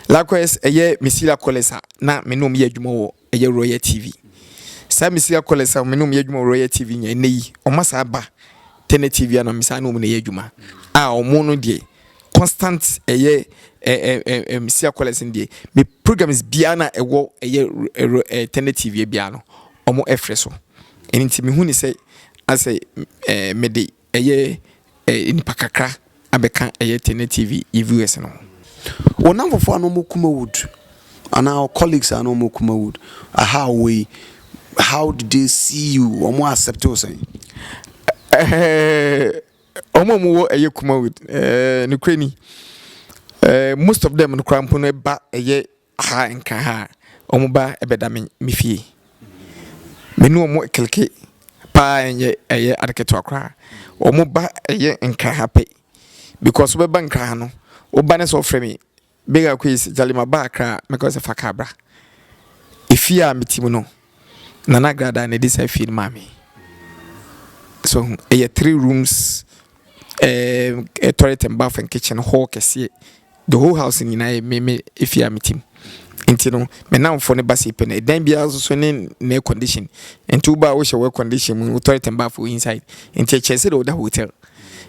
likewise ɛyɛ Mesila Collins a na me nom yɛ adwuma wɔ ɛyɛ Royal TV saa Mesila Collins a me nom yɛ adwuma wɔ Royal TV nyɛ ɛnɛ yi ɔma saa ba tɛnɛ tv a na me saa ne wɔn na ɛyɛ adwuma a wɔn no deɛ constant ɛyɛ ɛɛ ɛɛ ɛm sia kɔlɛs no deɛ me programs biara na ɛwɔ ɛyɛ ɛrɛ ɛɛ tɛnɛ tv biara no wɔn ɛfrɛ so ɛne nti me hu ne sɛ asɛ ɛɛ me de ɛyɛ ɛɛ nipa kakra. abɛka ɛyɛ Tene TV yɛ viewers no ho. Wo namfofoɔ a na wɔn kuma wood anaa wo colleagues a na wɔn kuma wood aha a wɔwɔ yi how did they see you wɔn accept wo sɛn? Ɛɛ wɔn a wɔwɔ ɛyɛ kuma wood ɛɛ nokura ni ɛɛ most of them no koraa mpo no ɛba ɛyɛ Ha nka ha a, wɔn ba bɛda me me fie. Me ne wɔn kleke paa ɛnyɛ ɛyɛ ade ketewa koraa. Wɔn ba yɛ nkraha pɛ because wobɛba nkraha no, woba ne sɛ wofrɛ me Bega Quays Gyale maba Accra a, mɛka wo sɛ fa kaa bra. Efie a mete mu no. Nana Gradaa na ɛdi saa fie no maa me. So ho, ɛyɛ three rooms, ɛɛ eh, toilet and bath and kitchen hall kɛseɛ. The whole house nyinaa yɛ me me efie a metim. Nti no, me namfo ne ba si pɛ no, ɛdan biara nso so ne ne air condition. Nti wo ba a wohyɛ air condition mu, wo toilet and bath wɔ inside. Nti ɛkyerɛ sɛ deɛ woda hotel.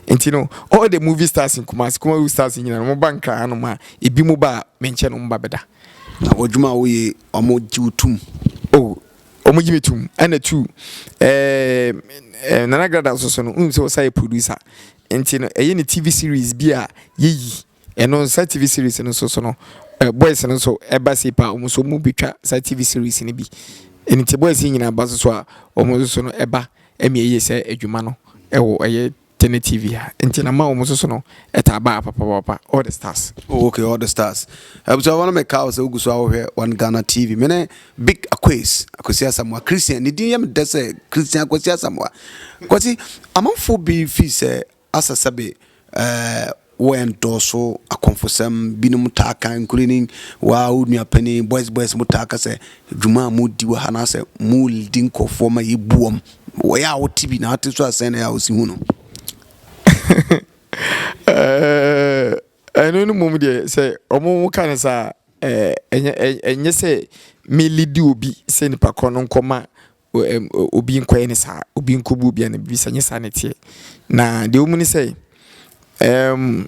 Nti no, all the movie stars in Kumasi, Kumasi stars nyinaa, wɔn ba nkran hanom a, ebi mo ba a, me nkyɛn na wɔn ba bɛda. Na w'adwuma a woyɛ yi, wɔgye wo tom? Oh, wɔgye me tom. Ɛna tu, ɛɛm, Nana Grada nso so no, wonim sɛ ɔsan yɛ producer. Nti no, ɛyɛ ne TV series bi a yɛyi. Ɛno nso, saa TV series no nso so no, ɛɛ, boys no nso ba sei paa, wɔn nso wɔbɛtwa saa TV series no bi. Nti boys yi nyinaa ba nso so a, wɔn nso so no ba ma yɛyɛ saa adwuma no wɔ ɛyɛ. te ne TV ha nti na ma ɔmo soso no ɛtaa baa papapapa all the stars. Oh okay all the stars abusua wɔn mi kaw sɛ ogu so ahohwɛ wɔn Ghana TV me ne big akwes akwesi asamoa Christian ne din yɛ mi dɛ sɛ Christian akwesi asamoa kwesi amanfo bi fi sɛ asɛsɛbe ɛɛ. Wɔ ndɔɔso akɔmfosɛm, binom taa kã nkurenyin, woaa wo nua panyin, boys boys, motaa kã sɛ, dwuma a moredi wɔ ha no asɛ moredi nkorɔfoɔ ma yebu wɔn. Wɔ yɛ a wote bi na ate so a sɛn na yɛ a wosi hu no? Ɛɛɛɛɛ ɛno no mmom deɛ sɛ ɔmo mo ka no saa a ɛɛ ɛnyɛ ɛnyɛ sɛ me lidi obi sɛ nipa korɔ no nkɔ ma obi nkɔyɛ no saa, obi nkɔbu obi anaa biribi saa, ɛnyɛ saa na ɛteɛ. Na deɛ ɛwɔ mu ne sɛ, um,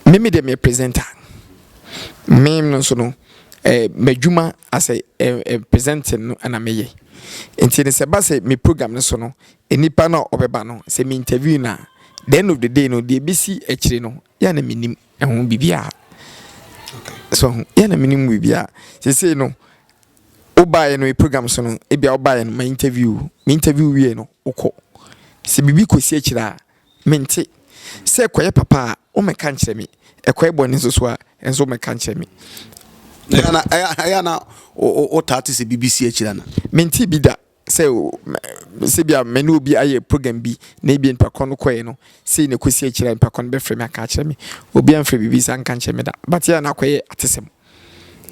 me me deɛ meyɛ presenter. Me no nso no, eh, m'adwuma as a eh, eh, presenting no ɛna meyɛ. Nti no sɛ ɛba sɛ me program no so no, nnipa no a ɔbɛba no, sɛ me interview no a, the end of the day no, deɛ ɛbɛsi akyire no, yɛ na menim ɛho biribiara. So, yɛ na menim biribiara. Sesei no, Wo baeɛ no program so no ebia wo baeɛ no ma interview me interview wie no wo kɔ sɛ biribi kɔ si akyire a me nte sɛ ɛkɔ yɛ papa a wo mɛka nkyerɛ me ɛkɔ yɛ bɔne nso so a ɛnso wo mɛka nkyerɛ me. Ɛyɛ na wo taa te sɛ biribi si akyire ana? Me nte bi da. sɛ sɛbia me ne obi ayɛ program bi na ebia nipa koro no kɔɛ no sei na ɛkɔsi akyire a nipa koro no bɛfrɛ me aka akyerɛ me obi amfrɛ biribi saa nka nkyerɛ me da but yɛ na akɔyɛ atesɛm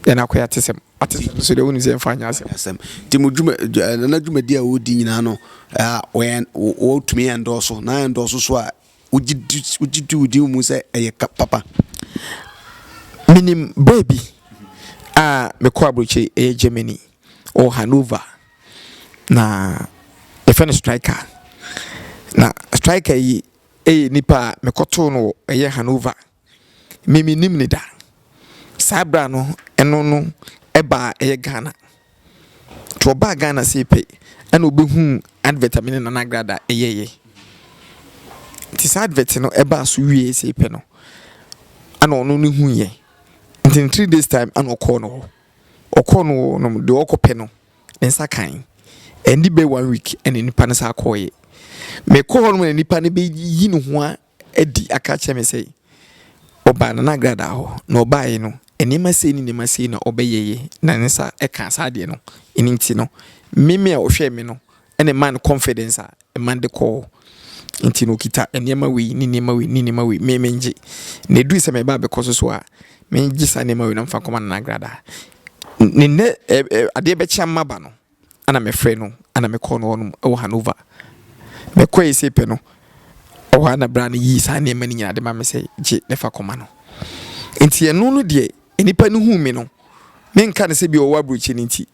yɛ na akɔyɛ atesɛm atesɛm so deɛ wonim sɛ ɛmfa nyɛ asɛm asɛm nti mo dwuma nana dwumadi a wɔdi nyinaa no wɔtumi ɛndɔɔso na ɛndɔɔso so a wogye di wogye di wodi mu sɛ ɛyɛ ka papa menim berɛ bi a mekɔ aburokyire ɛyɛ germany wɔ hanover na yɛfrɛ no striker na striker yi ɛyɛ nipa a mekɔtoo no wɔ ɛyɛ hanover Me mennim no da. Saa berɛ a no ɛno no baa ɛyɛ Ghana nti ɔbaa Ghana sei pɛ ɛna ɔbɛhuu advert a me ne Nana Agrada yɛeɛ nti saa advert no ɛbaa so wieeɛ sei pɛ no ɛna ɔno no huiɛ nti in three days time ɛna ɔkɔɔ no hɔ ɔkɔɔ no hɔ no deɛ ɔkɔ pɛ no ne nsa kan ɛndi bɛ one week ɛna nipa no saa kɔɔeɛ mekɔɔ hɔ no na nipa no bɛyi ne ho a adi aka akyerɛ me sɛ ɔbaa Nana Agradaa hɔ, na ɔbaeɛ no, nneɛma sei ne nneɛma sei na ɔbɛyɛeɛ, na ne nsa kaa saa adeɛ no. Ɛno nti no, me me a ɔhwɛɛ me no na ɛmaa no confidence a ɛma no de kɔɔ hɔ. Nti no, ɔkita nneɛma wei ne nneɛma wei ne nneɛma wei, me mengye. Na ɛduruu sɛ mereba abɛkɔ so so a, megye saa nneɛma wei na mefa nkɔma Nana Agradaa. N ne nnɛ ɛ ɛ adeɛ bɛkye ama ba no, Ana mefrɛɛ no ana mekɔɔ no hɔnom wɔ Hanover. Mekɔe sei pɛ no, ɛhɔ ara na bra no yii saa nneɛma no nyinaa de maa me sɛ, Gye na fa kɔma no. Enti ɛno no deɛ, nnipa no huu me no, menka no sɛ bi a ɔwɔ aburokyire no nti,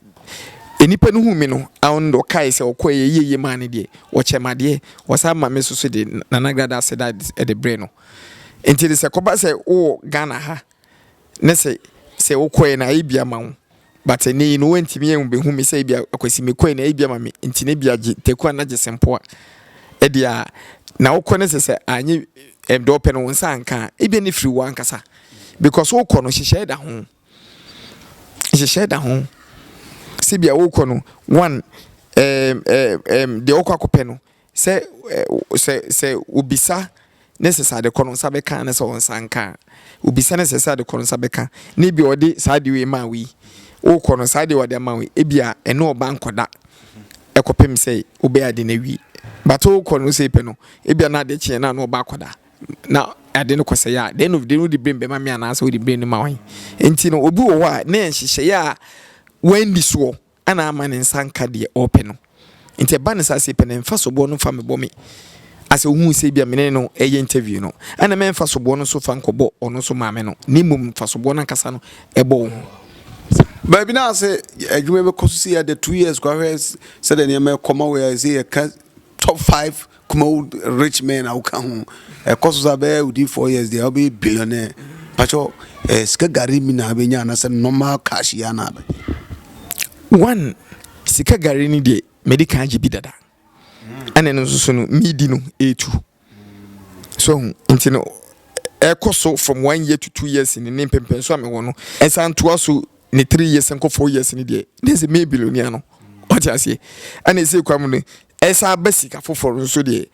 nnipa no huu me no, awo no deɛ ɔkae sɛ ɔkɔe yɛ yie yie maa no deɛ, wɔkyɛɛ me adeɛ, wɔsan ma me nso so de Nana Grada aseda de brɛɛ no. Enti de sɛ ɛkɔba sɛ wowɔ Ghana ha, ne sɛ sɛ wokɔɛ no ayɛ bi ama wo but ɛnɛ yi no woantumi anbɛhu me sɛ ebia akwasi mekɔɛ no ayɛ bi ama me nti no ebia gye taku ana gye sempoa ɛdeɛ a na wokɔ ne sɛ sɛ anyɛ ɛdɔ pɛ no wo nsa anka a ebia ne firi wo ankasa because wokɔ no hyehyɛɛ da ho hyehyɛɛ da ho sɛ bia wokɔ no one ɛɛm ɛɛm ɛɛm deɛ wokɔ akɔpɛ no Sɛ sɛ sɛ obisa ne sɛ sɛ ade kɔ no nsa bɛka ne sɛ ɔnsa nka a, obisa ne sɛ sɛ ade kɔ no nsa bɛka na ebi ɔde saa ade wei maa wei, wokɔ no saa ade ɔde ama wei ebi a ɛne ɔba nkɔda ɛkɔpem sɛ wobɛyɛ ade no awie. But wokɔ no sɛ pɛ no ebi a na ade kyeɛ na ɔba akɔda na ade no kɔ sɛ yɛ a, the end of the day wode blame bɛma me anaasɛ wode blame no ma wɔn? Nti no obi wɔ hɔ a na nhyehyɛeɛ a wɔandi soɔ Ana amma ne nsa anka deɛ ɔrepɛ no? Nti ɛba no saa sɛ pɛ na mfa soboɔ no fa mebɔ me asɛ wohuu sɛ ebia mene no ɛyɛ interview no ɛna mɛmfa soboɔ no so fa nkɔbɔ ɔno nso maame no na mmom mfa soboɔ no ankasa no ɛbɔ wo ho baabi na ase adwuma bɛkɔ so si ada two years kɔ ahwɛ sɛdeɛ nneɛma ɛkɔ ma wei a ɛsɛ yɛka Top five Kumawu rich men a woka ho. Ɛkɔ so saa bɛyɛ within four years deɛ wobɛyɛ billionaire. Pakyɛ eh, sika gari mi na abɛnya anasɛ normal cash yi ana abɛ. One, sika gari ni deɛ mɛdi kan gye bi dada. Ɛna ɛno nso so no midi no ɛtu. So hu? Nti no, ɛkɔ so from one year to two years ni ne mpempɛn so a mewɔ no, ɛsan toa so ne three years nkɔ four years ni deɛ, na ɛsɛ meyɛ billionaire no. Wate aseɛ? Ɛna ɛsɛ kwa mu no, ɛsan aba sika foforɔ no nso deɛ,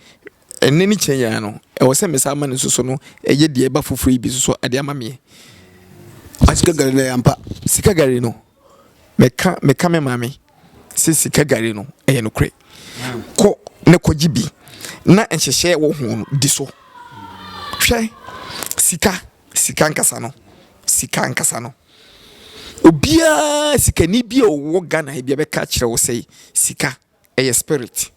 ɛnɛ ne kyɛn yɛa no, ɛwɔ sɛ mesan ma no nso so no, ɛyɛ deɛ ɛba foforɔ yi bi nso so de ama meɛ. Sika gari no yɛ ampa? Sika gari no, Meka meka me maame sɛ sika gari no ɛyɛ nokorɛ. Kɔ na kɔgye bi na nhyehyɛɛ wɔ ho no di so. Hwɛ sika sika ankasa no sika ankasa no obiara sikani bi a ɔwɔ Ghana ha bi a bɛka akyerɛ wo sɛ sika ɛyɛ spirit.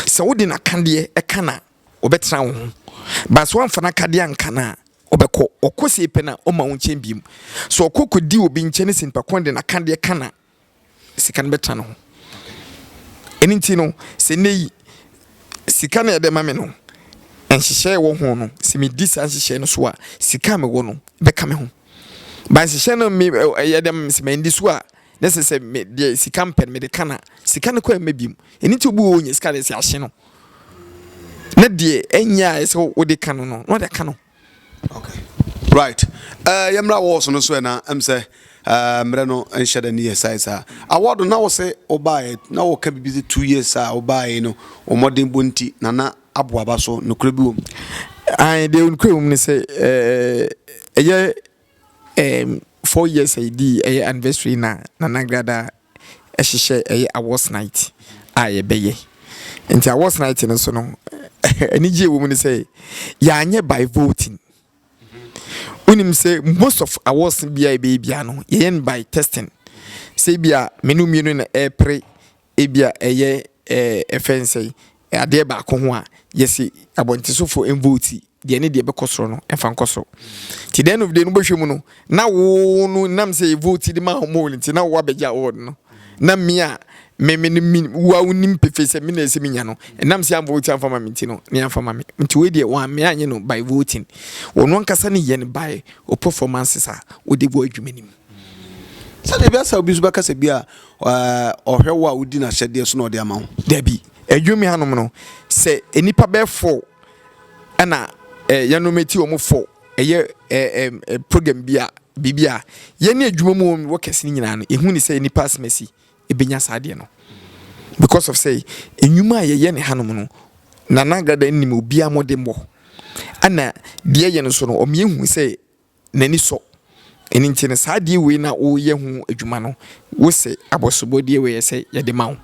Sɛ wode n'akadeɛ ɛka no a ɔbɛtena wo ho but sɛ woamfa n'akadeɛ anka no a Ɔbɛkɔ, ɔkɔ sie pɛ na ɔma wo nkyɛn biem. Sɛ ɔkɔ kɔ di obi nkyɛn ne sɛ nipa kɔn de na ka deɛ ka na sika no bɛtra ne ho. Ɛno nti no sɛ nnɛ yi sika na ɛde ma me no, nhyehyɛe a ɛwɔ ho no sɛ me di saa nhyehyɛe no so a sika a mewɔ no bɛka me ho. Ba nhyehyɛe no me ɛyɛ dɛ ma me sɛ ma ndi so a ne sɛ sɛ me deɛ sika mpɛ no mede ka na sika no kɔ ɛmma biem. Ɛno nti obi wɔ hɔ ɔnya sika de sɛ ahye no. na deɛ ɛnyɛ a ɛsɛ wode ka no no na wode aka no okay right uh, yɛmmra wɔ so no so ɛna ɛm sɛ uh, mmerɛ no nhyɛ da ne yɛ sae saa award na wo sɛ wobaeɛ na woka biribi sɛ two years a wobaeɛ no ɔmmɔden bɔ nti nana aboaba so nokorɛ bi wɔ mu deɛ nokorɛ wɔ mu ne sɛ ɛyɛ Ɛɛm four years a yɛdii ɛyɛ anniversary na Nana Agrada ɛhyehyɛ ɛyɛ awards night a yɛbɛyɛ nti awards night no so no anigyeɛ wɔ mu ne sɛ yɛanyɛ by voting wonim sɛ most of awards biara yɛbɛyɛ biara no yɛyɛ no by testing sɛ ebia mene wo mmienu na ɛrepere Ebia ɛyɛ eh, ɛfɛ nsɛe eh, adeɛ baako ho a yɛse abɔntesofo mvote deɛ ne deɛ ɛbɛkɔ soro no ɛmfa nkɔ soro. Nti the end of the day no wobɛhwɛ mu no na wo no nam sɛ yɛvote de ma wɔn nti na wo abɛgye award no na me a me me no me wo a wonim pefee sɛ me na ɛsɛ menya no ɛnam sɛ amvote amfa ma me nti no ne amfa ma me nti wei deɛ wɔn me anyɛ no by voting wɔn ankasa ne yɛ no by o performances a wode wɔ adwuma no mu. Sɛdeɛ ɛbɛyɛ sɛ obi nso bɛka sɛ bi a ɔhwɛ wo a wodi n'ahyɛdeɛ so na ɔde ama wo. Dabi. Adwuam hanom no, sɛ nnipa bɛyɛ four na yɛnom ti wɔn four yɛ program bi a, biribi a, yɛne adwuma mu wɔn wɔ kɛse no nyinaa no, ɛhu ne sɛ nnipa asimasi bɛnya saa adeɛ no. Because of sɛ nnwuma a yɛyɛ no hanom no, Nana Agrada nim obiara mmɔdemmɔ. Ɛna deɛ yɛyɛ no nso no, ɔmeɛ hu sɛ n'ani sɔ. Ɛno nti no, saa adeɛ wei no a woreyɛ ho adwuma no, wo se abɔsobɔdeɛ wei ɛsɛ yɛde ma wo.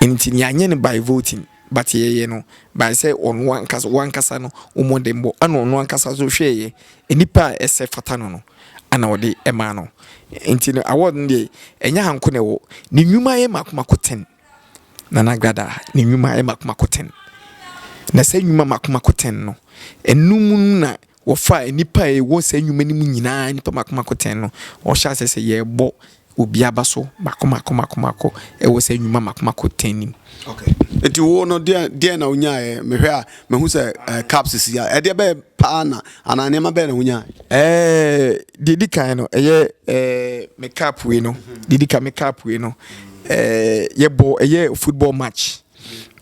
Ɛno nti no, yɛanyɛ no by voting, but yɛyɛ no by sɛ ɔno ankasa, wo ankasa no wo mmɔdenbɔ, ɛna ɔno ankasa nso hwɛeɛ, nnipa a ɛsɛ fata no no, ɛna ɔde ɛmaa no. Nti no, award no deɛ, ɛnyɛ ha nko na ɛwɔ, ne nnwuma yɛ mako mako ten. Nana Agradaa, ne nnwuma yɛ mako mako ten. Na saa nnwuma mako mako ten no, ɛno mu no na Wɔfaa nnipa a wɔwɔ saa nnwuma no mu nyinaa, nnipa mmaako mmaako tɛn no, na wɔhyɛɛ aseɛ sɛ yɛrebɔ obi aba so mmaako mmaako mmaako mmaako wɔ saa nnwuma mmaako mmaako tɛn no mu. Okay. Nti wo no deɛ deɛ na wonyaeɛ mehwɛ a mehu sɛ uh, caps si a ɛdeɛ bɛyɛ paa na anaa nneɛma bɛyɛ na wonyaeɛ? Eh, deɛ di kan no ɛyɛ eh, me cap wei no deɛ di kan me cap wei no eh, yɛbɔ ɛyɛ football match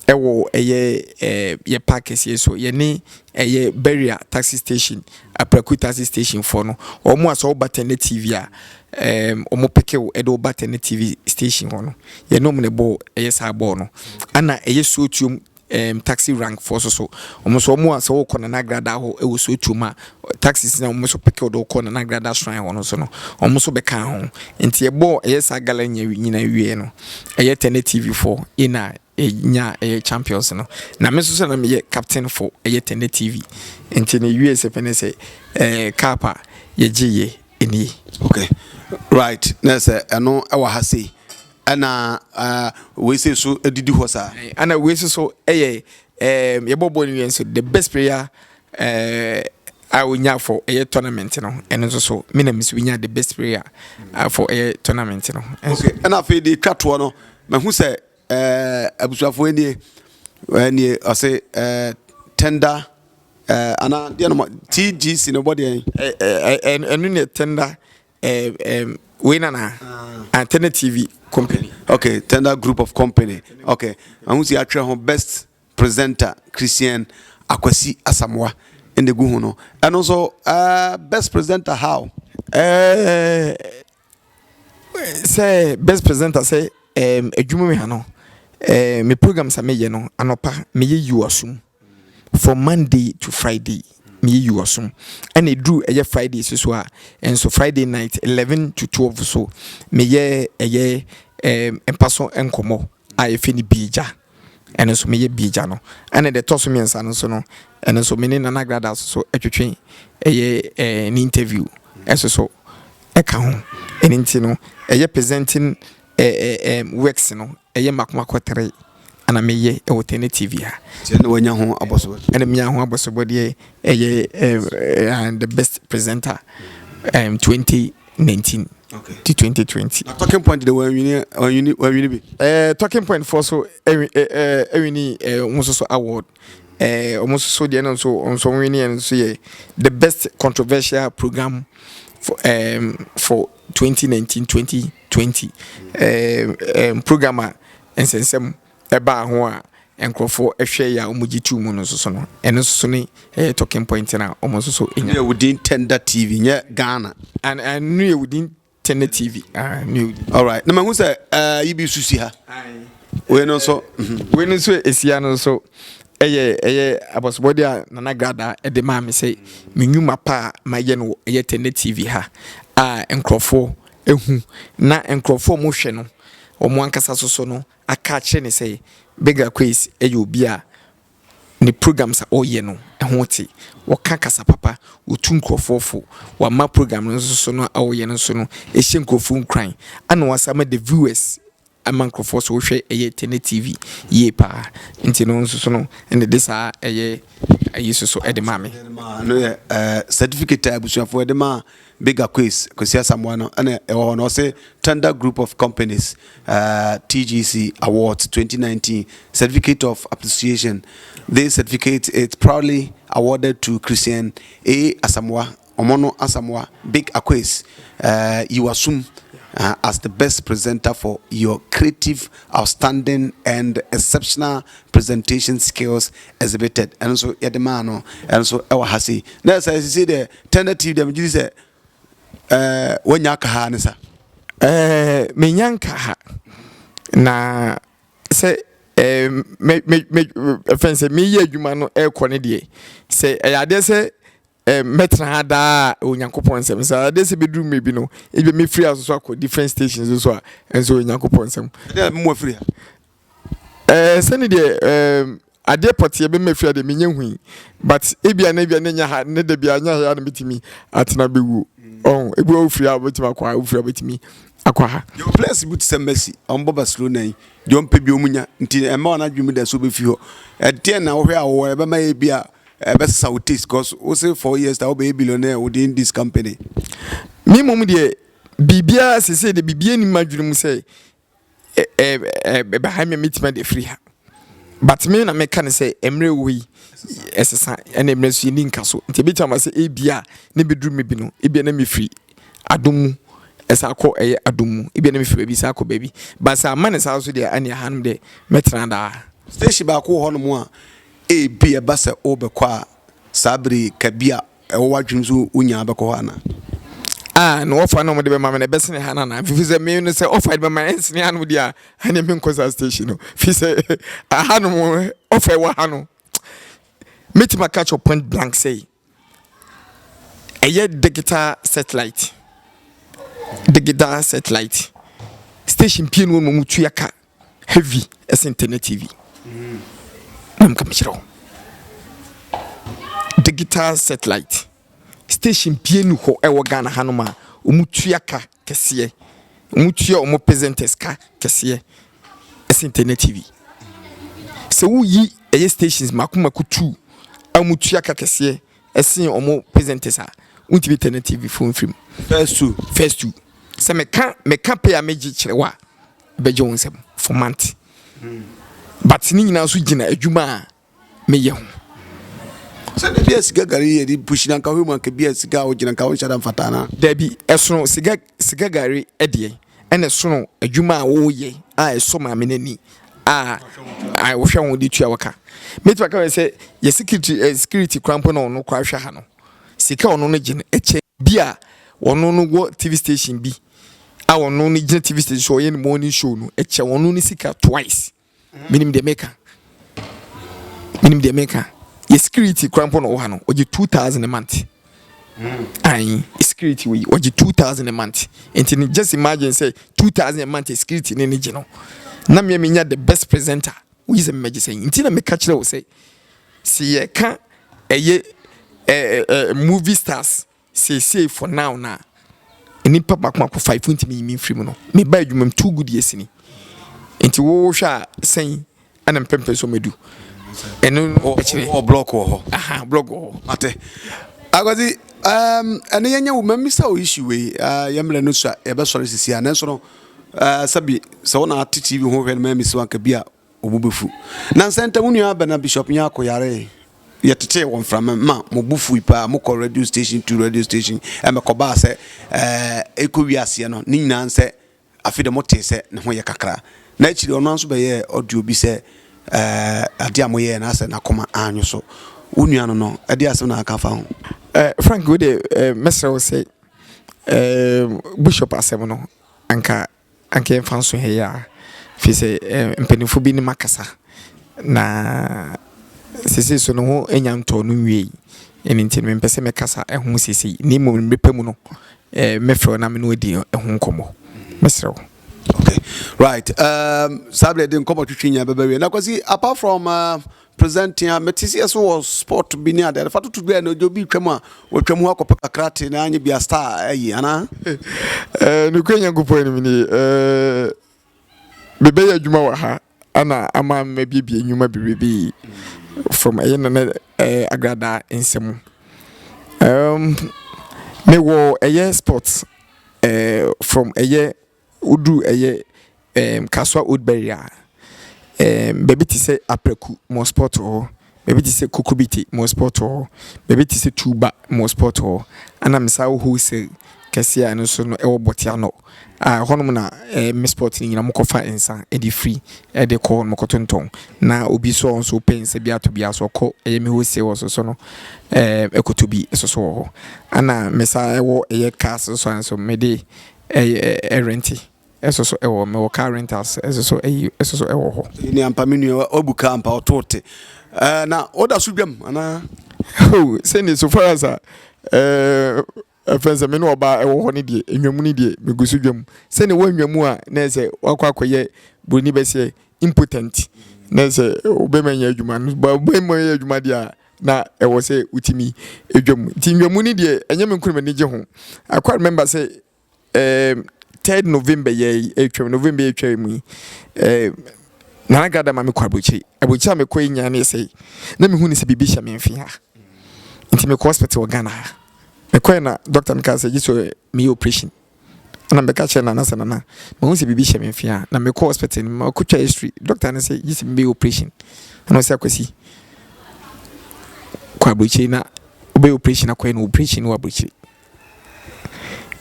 ɛwɔ ɛyɛ yɛ park kɛseɛ so yɛne ɛyɛ barrier taxi station aprɛko taxi station foɔ no wɔn a sɛ ɔba tɛnɛ tv a ɛɛm wɔn peke wo ɛde ɔba tɛnɛ tv station hɔ no yɛne wɔn na ɛbɔ ɛyɛ saa bɔɔl no ɛna ɛyɛ suotuom ɛɛm taxi rank foɔ nso so wɔn nso wɔn a sɛ ɔkɔ nana agradaa hɔ ɛwɔ suotuom a taxis na wɔn nso peke wo de wo kɔ Nana Agrada Shrine hɔ no nso no, wɔn nso bɛkaa ho. Nti ɛbɔɔ ɛyɛ saa gala nyɛ nyinaa wieɛ no, ɛyɛ Tene TV fo na ɛnyaa ɛyɛ champions no. Na me nso sɛ na meyɛ captain fo ɛyɛ Tene TV. Nti na ɛwieɛ sɛ pɛ ne sɛ ɛɛ cup a yɛgyeeɛ nie. Okay right na sɛ ɛno ɛwɔ ha sei ɛna uh, wei sei so ɛdidi hɔ saa. Ɛna wei nso so ɛyɛ ɛɛ yɛbɔ bɔɔl no wieɛ nso the best player Eh, a onya for ɛyɛ tournament no ɛno nso so me na mesi onya the best player for ɛyɛ tournament no okay ɛna afei de twa toɔ no mahu sɛ ɛɛ abusuafoɔ nie ɛnie ɔse ɛɛ tender ɛɛ ana deɛ no tgc no bɔ deɛ ɛɛ ɛno ne tender ɛɛ ɛɛ wei nana antenna tv company okay tender group of company okay mahu sɛ yɛatwerɛ ho best presenter Christian Akwasi Asamoah na egu ho no. Ɛno nso eh, best presenter how? Eh, sɛ best presenter sɛ eh, adwuma mu ha no eh, me programs a meyɛ no anɔpa meyɛ yiwasum from Monday to Friday meyɛ yiwasum ɛna eduru ɛyɛ Friday so so a nso Friday night eleven to twelve so meyɛ ɛyɛ eh, mpaso nkɔmɔ. a yɛfrɛ no Biegya, ɛno nso meyɛ Biegya no. Ɛna deɛ ɛtɔ so mmiɛnsa no nso no, ɛno nso me ne Nana Grada nso twetwe ɛyɛ ɛɛ ne interview ɛso so ɛka ho. Ɛno nti no ɛyɛ presenting ɛɛ ɛɛ works no ɛyɛ mako mako three ɛna meyɛ ɛwɔ Tene TV ha. Nti ɛna wanya ho abɔsobɔ? Ɛna menya ho abɔsobɔ deɛ ɛyɛ ɛɛ the best presenter ɛɛ twenty 19 okay. ti 2020. na talking point de wɔanwini wɔanwini wɔanwini bi. ɛɛ eh, talking point fɔ so ɛwi eh, ɛɛ eh, ɛwini ɛɛ wɔn nso so award ɛɛ wɔn nso so deɛ no nso wɔn nso wɔnwini yɛn nso yɛ the best controversial program for um, for 2019 2020 ɛɛ ɛɛ program a nsɛnsɛm ɛbaa ho a nkurɔfo hwɛ yɛ a wɔgye too mu no nso so no, ɛno nso so ne ɛyɛ talking point no a wɔn nso so nya. Yɛ wo din Tender TV nyɛ Ghana. And and no yɛ wo din Tender TV. Ah, no yɛ wo din. All right. Na mahu sɛ uh, yi bi susi ha. Wei no nso. Mhm. Wei no nso esia no nso ɛyɛ ɛyɛ abɔsobɔde a Nana Grada ɛde maa me sɛ me nnwuma pa a mayɛ no ɛyɛ Tender TV ha a nkurɔfoɔ ehu na nkurɔfoɔ a wɔhwɛ no wɔn ankasa soso no aka akyerɛ no sɛ Beggar Quays yɛ obi a ne programs a ɔyɛ no ho te, ɔka kasa papa, otu nkurɔfoɔ fo, wama program no nso so no a ɔyɛ no so no hyɛ nkurɔfoɔ nkuran, ɛna wasan ma the viewers ama nkurɔfoɔ so wohwɛ ɛyɛ Tene TV yie paa, nti no nso so no ɛna de saa ɛyɛ ayi so so ɛde maa me. No yɛ certificate a abusuafoɔ ɛde maa Bigger Quays, Kwesi Asamoah no na ɛwɔ hɔ no, ɔse Thunder Group of Companies TGC Awards 2019 Certificate of Appreciation This certificate is proudly awarded to Christian A. Asamoah, Omono Asamoah, Big Aquays, Yiwasum as the best presenter for your creative, outstanding and exceptional presentation skills exhibited. Ɛno nso yɛde maa no, ɛno nso ɛwɔ ha sei. Na ɛsɛ sisi deɛ Tɛnɛ TV deɛ megye di sɛ ɛɛ wanya aka ha ne sa. Ɛɛ menya nka ha na sɛ ɛɛ me me me fɛn sɛ meyɛ adwuma no ɛrekɔ ne deɛ sɛ ɛyɛ adeɛ sɛ ɛɛ mɛtena ha daa onyankopɔn nsɛm sɛ ɛyɛ adeɛ sɛ bɛduru mmerɛ bi no ebi mefiri ha so akɔ different stations so a ɛnso onyankopɔn nsɛm. Ɛdeɛ mo afiri ha. Eh, sɛ ne deɛ eh, adeɛ pɔteɛ bɛma fie adeɛ menyɛ hui but ebia na ebia ne nya ha ne da bia nya ha na metumi atena bɛwuo ɔho ebi wɔ wofiri a wobɛtumi akɔ ha wofiri a wobɛtumi akɔ ha yɛwɔ players bi te sɛ Messi ɔmbɔ Barcelona yi deɛ ɔmpɛ bi ɔmu nya nti ɛma ɔno adwene mu da so bɛfi hɔ ɛdeɛ na wohwɛ a wɔwɔ ɛbɛma yɛ bi a ɛbɛsesa wo taste cause wo se four years ta wobɛyɛ billionaire within this company me mmom deɛ biribiara sesei de biribiara nim adwene mu sɛ ɛba ha na mɛtumi de afiri ha but me na meka no sɛ mmerɛ wɔ yi ɛsesa ɛna mmerɛ so yɛni nka so nti ɛbɛtumi ama sɛ ebia ne bɛduru me bi no ebia na mefiri adom mu ɛsan kɔ ɛyɛ adom mu ebia na mefiri baabi san kɔ baabi but sɛ amma ne saa so deɛ ɛne aha nom deɛ mɛtena daa station baako wɔ hɔ nom a ebia ɛba sɛ wobɛkɔ a saa bere ka bi a ɛwɔ w'adwenem sɛ wonyaa bɛkɔ hɔ anaa? Ah, na ɔfa na ɔmode bɛma me no ɛbɛsene ha no anaa? Mfifiri sɛ me no sɛ ɔfa de bɛma no ɛnsene ha nom deɛ a, ɛneɛ menkɔ saa station no. Firi sɛ aha nom ɔfa ɛwɔ ha no. Mɛtumi aka kyerɛ point blank sɛ ɛyɛ digital satellite. Digital satellite. Station pie no wɔn mu tuya ka. heavy ɛsen tele tv na nka mekyerɛ wo digital satellite station pie ni hɔ ɛwɔ ghana hanom a wɔtua ka kɛseɛ wɔtua wɔn presenters ka kɛseɛ ɛsen tele tv sɛ woyi ɛyɛ stations mako mako tu a wɔtua ka kɛseɛ ɛsen wɔn presenters a wontumi tele tv fo mfirim first two first two sɛ meka meka pay a megye kyerɛ wo a bɛgye wo nsam for month but ne nyinaa nso gyina adwuma a meyɛ ho. sɛdeɛ bi a siga gari yɛ de pushi na nka wohwɛ mu anka bi a siga a wogyina nka wonhyɛ da mfata anaa daabi ɛsono siga siga gari ɛdeɛ ɛna ɛsono adwuma a woyɛ a ɛsɔ maame no ani a a wohwɛ ho de tua wo ka mɛtumi aka sɛ yɛ security eh, security kora mpo na ɔno kora hwɛ ha no sika ɔno no gye no ɛkyɛ bi a ɔno no wɔ tv station bi a ɔno no gyina tv station so ɔyɛ ne morning show no ɛkyɛ ɔno ne sika twice menim deɛ meka menim deɛ meka yɛ security kora mpo na ɔwɔ ha no ɔgye 2000 a month ayi security wei ɔgye 2000 a month nti ne just imagine sɛ 2000 a month security ne ne gye no na mmea menya the best presenter woyi sɛ mmɛgye sɛ nti na meka kyerɛ wo sɛ sɛ yɛka ɛyɛ ɛɛ movie stars Seesei for now no a nnipa baako baako five wontumi nyi me mfiri mu no, meba adwuma mu two good years ni. Nti wo wohwɛ a sɛn ɛna mpɛmpɛ so mɛdu? Ɛno no ɛkyerɛ. Wɔ block wɔ hɔ. Aha, block wɔ hɔ. Mate. Akwasi, um, ɛne yɛnyɛ wo mmisa wo issue wei. Uh, yɛ mmerɛ no so a yɛbɛsɔre sisi a, nanso no, uh, sɛbi, sɛ wo na ate TV ho hwɛ no ma misi wanka bi a, Wɔn bo befu. Nnansa ntam, wo nua Abena Bishop Nyarko yaree. Yɛtetee wɔ mframa mu ma mo bo fui paa. Mokɔ radio station to radio station, ɛma ɛkɔbaa sɛ ɛrekowie aseɛ no, ne nyinaa ne sɛ afei deɛ motee sɛ ne ho yɛ kakra. Na akyiri ɔno ara nso bɛyɛɛ audio bi sɛ adeɛ a moyɛeɛ no asɛ n'akoma anwo so. Wo nua no no, ɛdeɛ asɛm na aka fa ho? Frank, wei deɛ mɛsrɛ wo sɛ Bishop asɛm no anka. Anka yɛmfa nso ha yi ara, ɛfiri sɛ mpanimfoɔ binom akasa, na seesei nso ne ho nnya ntɔɔ no nwieeɛ. Ɛno nti mempɛ sɛ mɛkasa ho seesei, na mmom mmerɛ pa mu no, mɛfrɛ wo na me ne wo adi ho nkɔmmɔ. Mɛsrɛ wo. Okay, right. Um, saa berɛ de nkɔmmɔ twetwe nyinaa bɛbɛ wie. Na Kwasi, apart from uh, Presenting a mete seɛ so wɔ sport bi ne adeɛ adeɛ fa toto bi a na ojo bi twam a wɔtwam hɔ akɔpɛ kakra te na anyɛ bi a star ayi anaa. Ɛɛ nokura Nyankopɔn anim ni ɛɛ mebɛyɛ adwuma wɔ ha ana ama mabibie nnwuma biribi from ɛyɛ na ne ɛɛ agradaa nsɛm ɛɛm mewɔ ɛyɛ sport ɛɛ from ɛyɛ Woduru ɛyɛ ɛɛm Kasoa Old Berry a, ɛɛm baabi te sɛ Apraku Moss Port wɔ hɔ, baabi te sɛ Kokobite Moss Port wɔ hɔ, baabi te sɛ Tuuba Moss Port wɔ hɔ, ɛna Mesaw Wholesale kɛseɛ a ɛno nso no ɛwɔ Bɔtianɔ a ɛhɔnom na ɛɛm Miss Port no nyina wɔkɔfa nsa de firi ɛde kɔ hɔnom kɔtontɔn na obi nso a ɔno nso ɔpɛ nsa bi atɔ biara nso ɔkɔ ɛyɛ me Wholesale wɔ so so no ɛɛm ɛkɔtɔ bi nso so wɔ hɔ. Ɛna mesan ɛwɔ ɛyɛ Cars nso a nso mede. Ɛyɛ rente ɛso so ɛwɔ mɛ wɔ car rentals ɛso so ɛyi ɛso so ɛwɔ hɔ. Ɛni ampa mi nua wabu car ampa ɔtoo te ɛɛ na ɔda so dwam anaa. Oh sɛni so far as a ɛɛ ɛfɛn sɛ mi ne ɔbaa ɛwɔ hɔ ne deɛ enwamu ne deɛ mi gu so dwam sɛni wɔ enwamu a na ɛsɛ wakɔ akɔyɛ broni bɛsɛ impotent na ɛsɛ ɔbɛma nyɛ adwuma no ba ɔbɛma nyɛ adwuma deɛ a. na ɛwɔ sɛ wotumi dwa mu. Nti nnwamu no deɛ ɛnyɛ me nko na m'ani gye ho. I quite remember sɛ um, third November yɛ ɛtwam November yɛ ɛtwam yi um, Nana Gada ma mekɔ aburokyire. Aburokyire a mekɔ yi nyane sɛ na mehu ne sɛ biribi hyɛ me mfe ha. Nti mekɔ hospital wɔ Ghana ha. Mekɔɛ na doctor no kaa sɛ gye sɛ meyɛ operation. Ɛna mebɛka kyerɛɛ Nana sɛ, Nana, mahu sɛ biribi hyɛ me mfe a. Na mekɔɔ hospital no mu, makɔtwa x-ray. Dɔkta no sɛ, gye sɛ mebɛyɛ oprehyɛn. Ɛna ɔse, Akwasi, kɔ aburokyire na wobɛyɛ oprehyɛn akɔyɛ no oprehyɛn no wɔ aburokyire.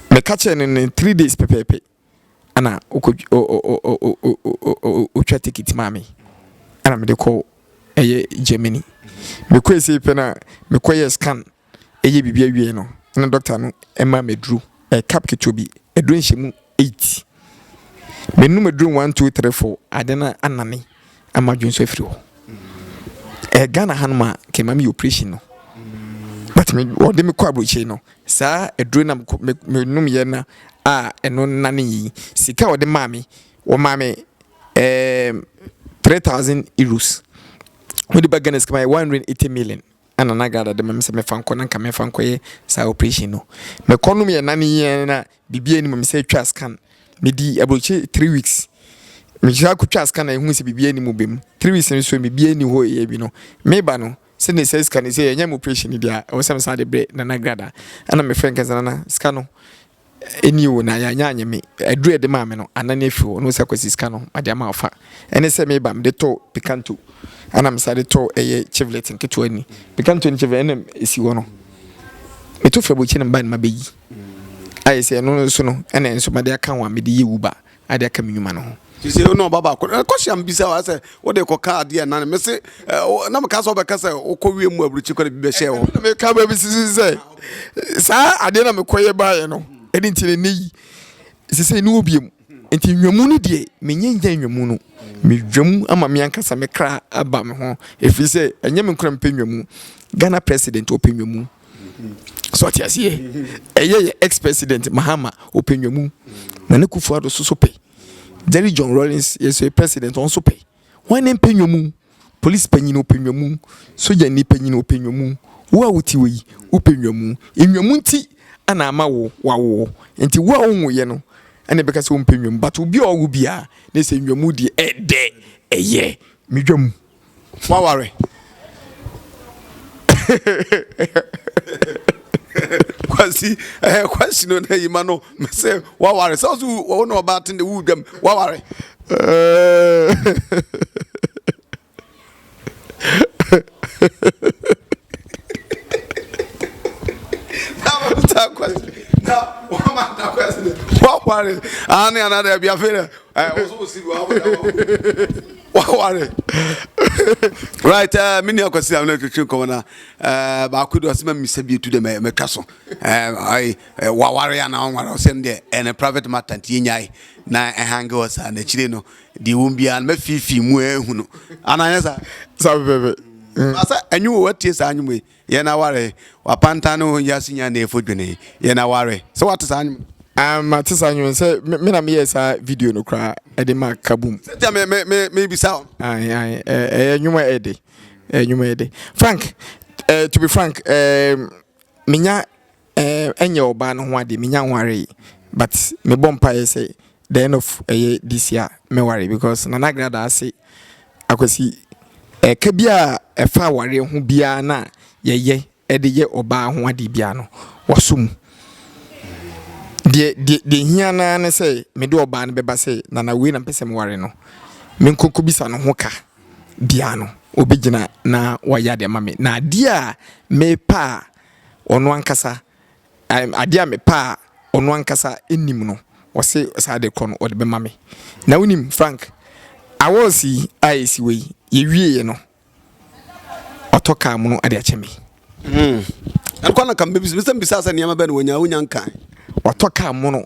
Meka kyerɛɛ no no, three days pɛpɛɛpɛ, ɛna ɔtwa ticket maa me. Ɛna mede kɔ ɛyɛ Germany. Mekɔɛ sei pɛ no a, mekɔyɛɛ scan. reyɛ biribi awie no, na dɔkta no maa me aduro, ɛyɛ cup ketewa bi, aduro nhyɛmu eight. Menom aduro one, two, three, four, ade no anane ama adwene so afiri hɔ. Ɛyɛ Ghana hanom a, nka ɛma meyɛ operation no. But me, wɔde me kɔ aburokyire no, saa aduro na menom yɛ na a ɛno nane yi, sika a wɔde maa me, wɔmaa me ɛɛm, three thousand euros. Wɔde ba Ghana sika ma yɛ one hundred and eighty million. Ɛna na Gada de ma me sɛ mɛfa nkɔ na nka mɛfa nkɔyɛ saa operation no. Mekɔ nom yɛ nane yi ara na biribiara nni mu. Mesan twaa scan. Medi aburokyi three weeks. Mesan kɔtwaa scan na yɛhuu sɛ biribiara nni mu bem. Three weeks no so biribiara nni hɔ yɛ bi no. Meba no sɛdeɛ saa sika no sɛ yɛnyɛ me operation no deɛ a ɛwɔ sɛ mesan de brɛ Nana Gada. Ɛna mefrɛ no ka sɛ Nana sika no Ɛnnie o, na yɛanyɛ anyɛ me. Aduru a ɛde maa me no, anan afiri hɔ. Wohu sɛ Kwasi sika no, made ama wo fa. Ɛne sɛ mereba no, mede tɔɔ Picanto, ɛnna mesan de tɔɔ ɛyɛ Chevrolet nketewa ni. Picanto ne Chevrolet na ɛsi hɔ no. Meto frɛ Bokye na meba no mabɛyi. Ayɛ sɛ ɛno nso no, ɛnna ɛno nso made aka ho a mede yɛ Uber. Ade aka me nnwuma no ho. Sese wo ne ɔba baako na kɔ hyia mbisa wa sɛ wo de kɔ ka adeɛ nane me se na meka sɛ ɔbɛka sɛ wokɔ wie mu aburukyi kɔ na bi bɛhyɛ wɔ na meka baabi sisi sɛ saa adeɛ na mekɔ yɛ baayɛ no ɛne nti ne ne yi sese ne obie mu nti nnwamu no deɛ menyɛ nya nnwamu no medwamu ama me ankasa me kra aba me ho ɛfiri sɛ ɛnyɛ me nkora mpɛ nnwamu Ghana president ɔpɛ nnwamu so ɔte aseɛ ɛyɛ yɛ ex president mahama ɔpɛ nwamu nana kufu ado so so pɛ jerry john rollins yɛ so president ɔn so pɛ wɔn ne mpɛ nwamu polisi panyin ɔpɛ nwamu sogya ni panyin ɔpɛ nwamu wo a wote wɔ yi wopɛ nwamu nwamu nti ɛna ama wo wawo nti wo a wonwo yɛ no ɛna ɛbɛka sɛ wompɛ nwamu but obi a ɔwo biara na ɛsɛ nwamu deɛ ɛdɛ ɛyɛ medwamu W'aware. Kwasi ɛɛ kwasi no na yi ma no mɛ sɛ w'aware sɛ ɔso wɔn na ɔbaa ten de w'u dɛm w'aware. W'aware. Ani anadɛ bi afei dɛ ɛɛ ɔso osi bi w'aware. Waware. Right, eh, me nua Kwasi Amina twetwe nkɔmɔ na eh baako de ɔsema misa bi etu de me metwa so. Eh, ai, eh, waware ana ɔnware ɔsɛm de ɛne eh, private matter nti enyae na ɛhange wɔ saa na kyire no de wɔn bia na fifi mu ehunu. Ana yɛ sa. Sa bebe. Asa enyu wo tie saa anwume. Yɛn aware, w'apantan ne wo ho wiase nyinaa na efo dwene. Yɛn aware. Sɛ w'ate saa nwom no. Aah mate saa nwom no sɛ me me na me yɛɛ saa video no koraa ɛde maa Kabum. Sɛ ntia me me me me bisa wo no. Ae ae ɛyɛ nwom a ɛde. Ɛyɛ nwom a ɛde. Frank eh to be frank eh me nya Ɛɛ ɛnyɛ ɔbaa no ho adeɛ menya nwaree but mebɔ mpaeɛ sɛ the end of ɛyɛ this year mɛware because Nana Grada ase Akwasi ɛka biara ɛfa awareɛ ho biara no a yɛyɛ ɛde yɛ ɔbaa ho adeɛ biara no wasɔ mu deɛ deɛ deɛ hia no ara ne sɛ mede ɔbaa no bɛba sɛ Nana wei na mpɛ sɛ meware no menkɔ kɔbisa no ho ka biara no ɔbɛgyina na wayɛ adeɛ ama me na adeɛ a mepɛ a ɔno ankasa, adeɛ a mepɛ a ɔno ankasa nim no, ɔse saa de kɔ no ɔde bɛma me. Na wonim Frank, awards yi a ɛsi hɔ yi, yɛwieɛ no, ɔtɔ kaa mu no de akyɛ me. Hmm. Ɛkɔ na kam bɛbisa, bisa sɛ nneɛma bɛn na wɔnya, wonya nka. Ɔtɔ kaa mu no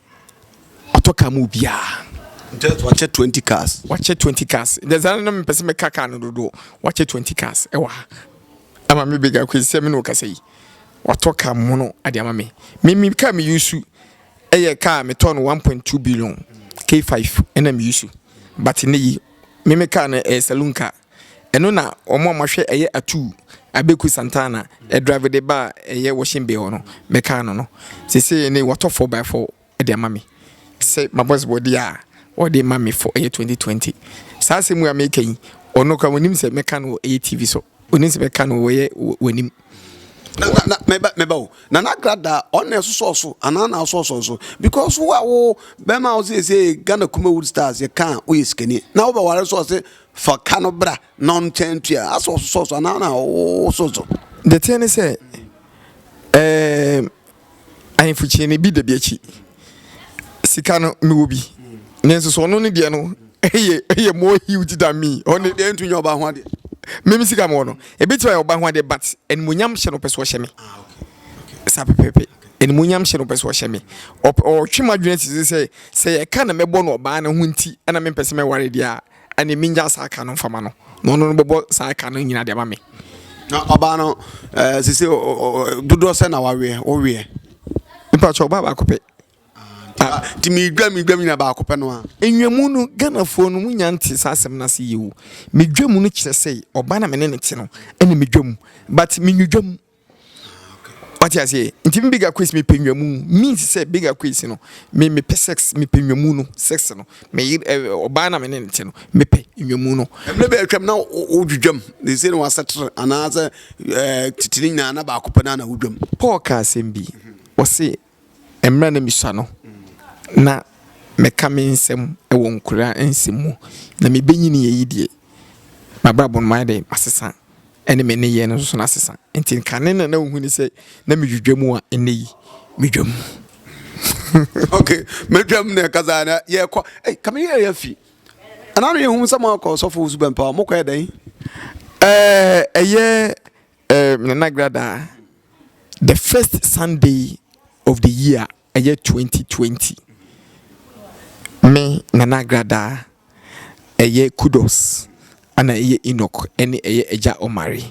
Watɔ car mu obiara. Just wakyɛ twenty cars. Wakyɛ twenty cars. Dɛsɛ na mepɛ sɛ meka car no dodo. Wakyɛ twenty cars ɛwɔ ha. Ama me big akwesi sɛ me na ɔkasa yi. Watɔ car mu no ade ama me. Me me car me yusu ɛyɛ car metɔ no one point two billion K five ɛna me yusu. But ne yi me me car no ɛyɛ saloon car. Ɛno na wɔn a wɔahwɛ ɛyɛ atuu Abeku Santana drive de ba a ɛyɛ washing bay hɔ no bɛkaa no no. Sesei ne watɔ four by four de ama me sɛ mabɔsbɔ deɛ a ɔde ma me for ɛyɛ twenty twenty. Saa asɛm wei a meka yi ɔno koraa ɔnim sɛ mɛka no wɔ ɛyɛ TV so. Ɔnim sɛ mɛka no wɔ ɛyɛ wɔ anim. na na na mɛba mɛba o na n'agradaa ɔno na ɛsosɔ so anaa na asosɔ so because wo a wo bɛrima a ɔsɛ ɛsɛ ghana kuma wood stars yɛ ka a woyɛ sikani na wobɛware so ɔse fa ka no bra na ɔnkyɛn ntua asɛ ɔsosɔ so anaa na wososɔ the thing ne sɛ um, Ahemfo kyinie no ebi da bi akyi. Sika no mewɔ bi. Nanso so ɔno ne deɛ no ɛyɛ ɛyɛ more huge than me. Ɔne deɛ ntu nyɛ ɔbaa ho adeɛ. Mimi sika mewɔ no. Ebi ti ɔyɛ ɔbaa ho adeɛ but animonyam hyɛ no pɛ so ɔhyɛ me. Ah, saa pɛpɛɛpɛ animonyam hyɛ no pɛ so ɔhyɛ me ɔtwe m'adwene sisi sɛ sɛ yɛka na mɛbɔ no ɔbaa no ho nti ɛna mempɛ sɛ mɛware deɛ a Ɛnneɛ mennya saa ka no mfa ma no, na ɔno no bɛbɔ saa ka no nyinaa de ama me. Na ɔbaa no, ɛɛ sisi ɔ ɔ ɔ dodoɔ sɛ na waweɛ, woweɛ? Mpakyɛ ɔbaa baako pɛ. Ah, nti medwa medwa nyina baako pɛ no a. Nnwamu no Ghanafoɔ no monya nte saa asɛm no ase yie o. Medwamu no kyerɛ sɛ ɔbaa no a me ne no te no ɛna medwamu but menwudwamu. wate aseɛ nti me bigger quiz mepɛ nwamu means sɛ bigger quiz no me mepɛ sex mepɛ nwamu no sex no me ɔbaa eh, na me ne nte no mepɛ nwamu no ɛmɛ bɛ atwam na wodwidwam de sɛ no wasɛtere anaasɛ eh, titiri nyinaa na baako pɛ na na wodwam paul ka asɛm bi ɔse Mmerɛ na mesua no, na meka me nsɛm wɔ nkura nsɛm mu, na mebɛnyiniiɛ yi deɛ, m'abrabɔ no mayɛ dɛ masesa ɛne me nneyɛɛ no nso nasesa. Nti kane na na wohu ne sɛ na medwidwa mu a nnɛ yi medwa mu. Ok, medwa mu na ɛkasa a na yɛkɔ, ei ka me yɛɛ afi, ɛna na yɛhu sɛ moakɔ ɔsɔfo Owusu Bɛmpa hɔ, mokɔɛ dɛn? Ɛɛ ɛyɛ Eh me nana gradaa the first Sunday of the year ɛyɛ 2020 me nana gradaa ɛyɛ kudos ɛna ɛyɛ Enoch ɛne ɛyɛ agya Omari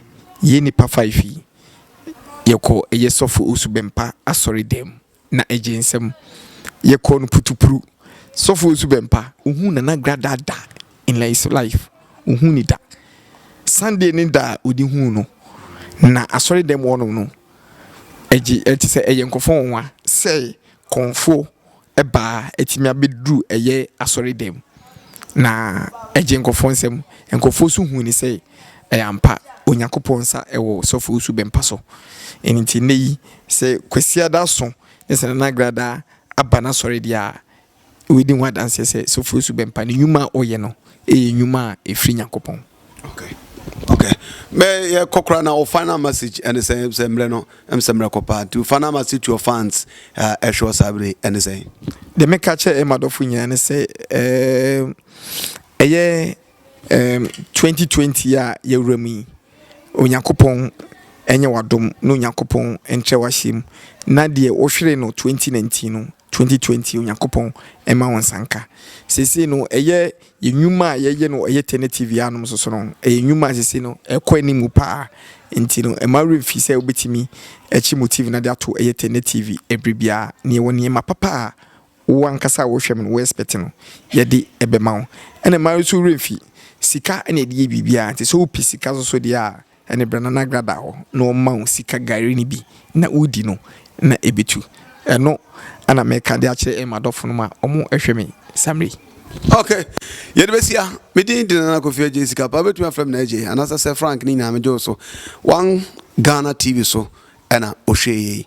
yɛn nipa five yi yɛkɔ ɛyɛ sɔfo Osu Bɛmpa asɔre dɛm. na egye nsam. Yɛkɔɔ no putupru. Sɔfo Osu Bɛmpa, ohuu Nana Gradaa da in his life, ohuu no da. Sunday ne da a odi huu no, na asɔredɛm hɔnom no, egye, ɛte sɛ ɛyɛ nkurɔfo nwonwa sɛ kɔmfo baa atumi abeduru ɛyɛ asɔredɛm. Na egye nkurɔfo nsam. Nkurɔfo nso huu no sɛ Ɛyɛ ampa, Onyankopɔn nsa wɔ Sɔfoɔ Su Bɛmpa so. Ɛno nti nnɛ yi, sɛ Kwasiada aso ne sɛ Nana Agradaa aba n'asɔre deɛ a, wobɛdi ho adanseɛ sɛ Sɔfoɔ Su Bɛmpa ne nnwuma a ɔyɛ no yɛ nnwuma a ɛfiri Nyankopɔn. Okay, okay. Mɛ yɛ kɔ koraa na wo final message ɛne sɛ sɛ mmerɛ no ɛm sɛ mmerɛ kɔ paa nti final message to your fans ɛhwɛ wɔ saa bere ɛne sɛ. Deɛ mɛka kyɛ ɛma dɔfo nyinaa ne sɛ ɛyɛ. Ɛɛm, twenty twenty yi a yɛwura mu yi, Onyankopɔn nyɛ w'adom na Onyankopɔn nkyerɛ w'ahyia mu, na deɛ wohweree no twenty nineteen no, twenty twenty Onyankopɔn mma wo nsa nka. Seesei no, ɛyɛ yɛn nnwuma a yɛyɛ no ɛyɛ tɛnɛtiivi a anom soso no, ɛyɛ nnwuma a seesei no ɛkɔ anim pa ara, nti no mma wo werɛ mfi sɛ wobɛtumi akyi motiivi no ade ato ɛyɛ tɛnɛtiivi ɛberɛ biara, na yɛwɔ nneɛma papa a Wo ankasa a wohwɛ me no, wo expect no, yɛde ɛbɛma wo. Ɛna mmaa nso werɛ mfi sika na yɛde yɛ biribiara nti, sɛ wopɛ sika nso so deɛ a, ɛne bra na na Agra da hɔ na wɔma wo sika gari no bi na wodi no na ɛbɛtu. Ɛno na meka de akyerɛ m'adɔfo nom a wɔhwɛ me saa mmerɛ yi. Ok, yɛde bɛsia. Me din de Nana Kofi Adjei Sika pa, wobɛtumi afrɛ me Nana Adjei anaasɛ Sir Frank ne nyinaa megye wo so. One Ghana TV so. na ɔhwɛɛ yei.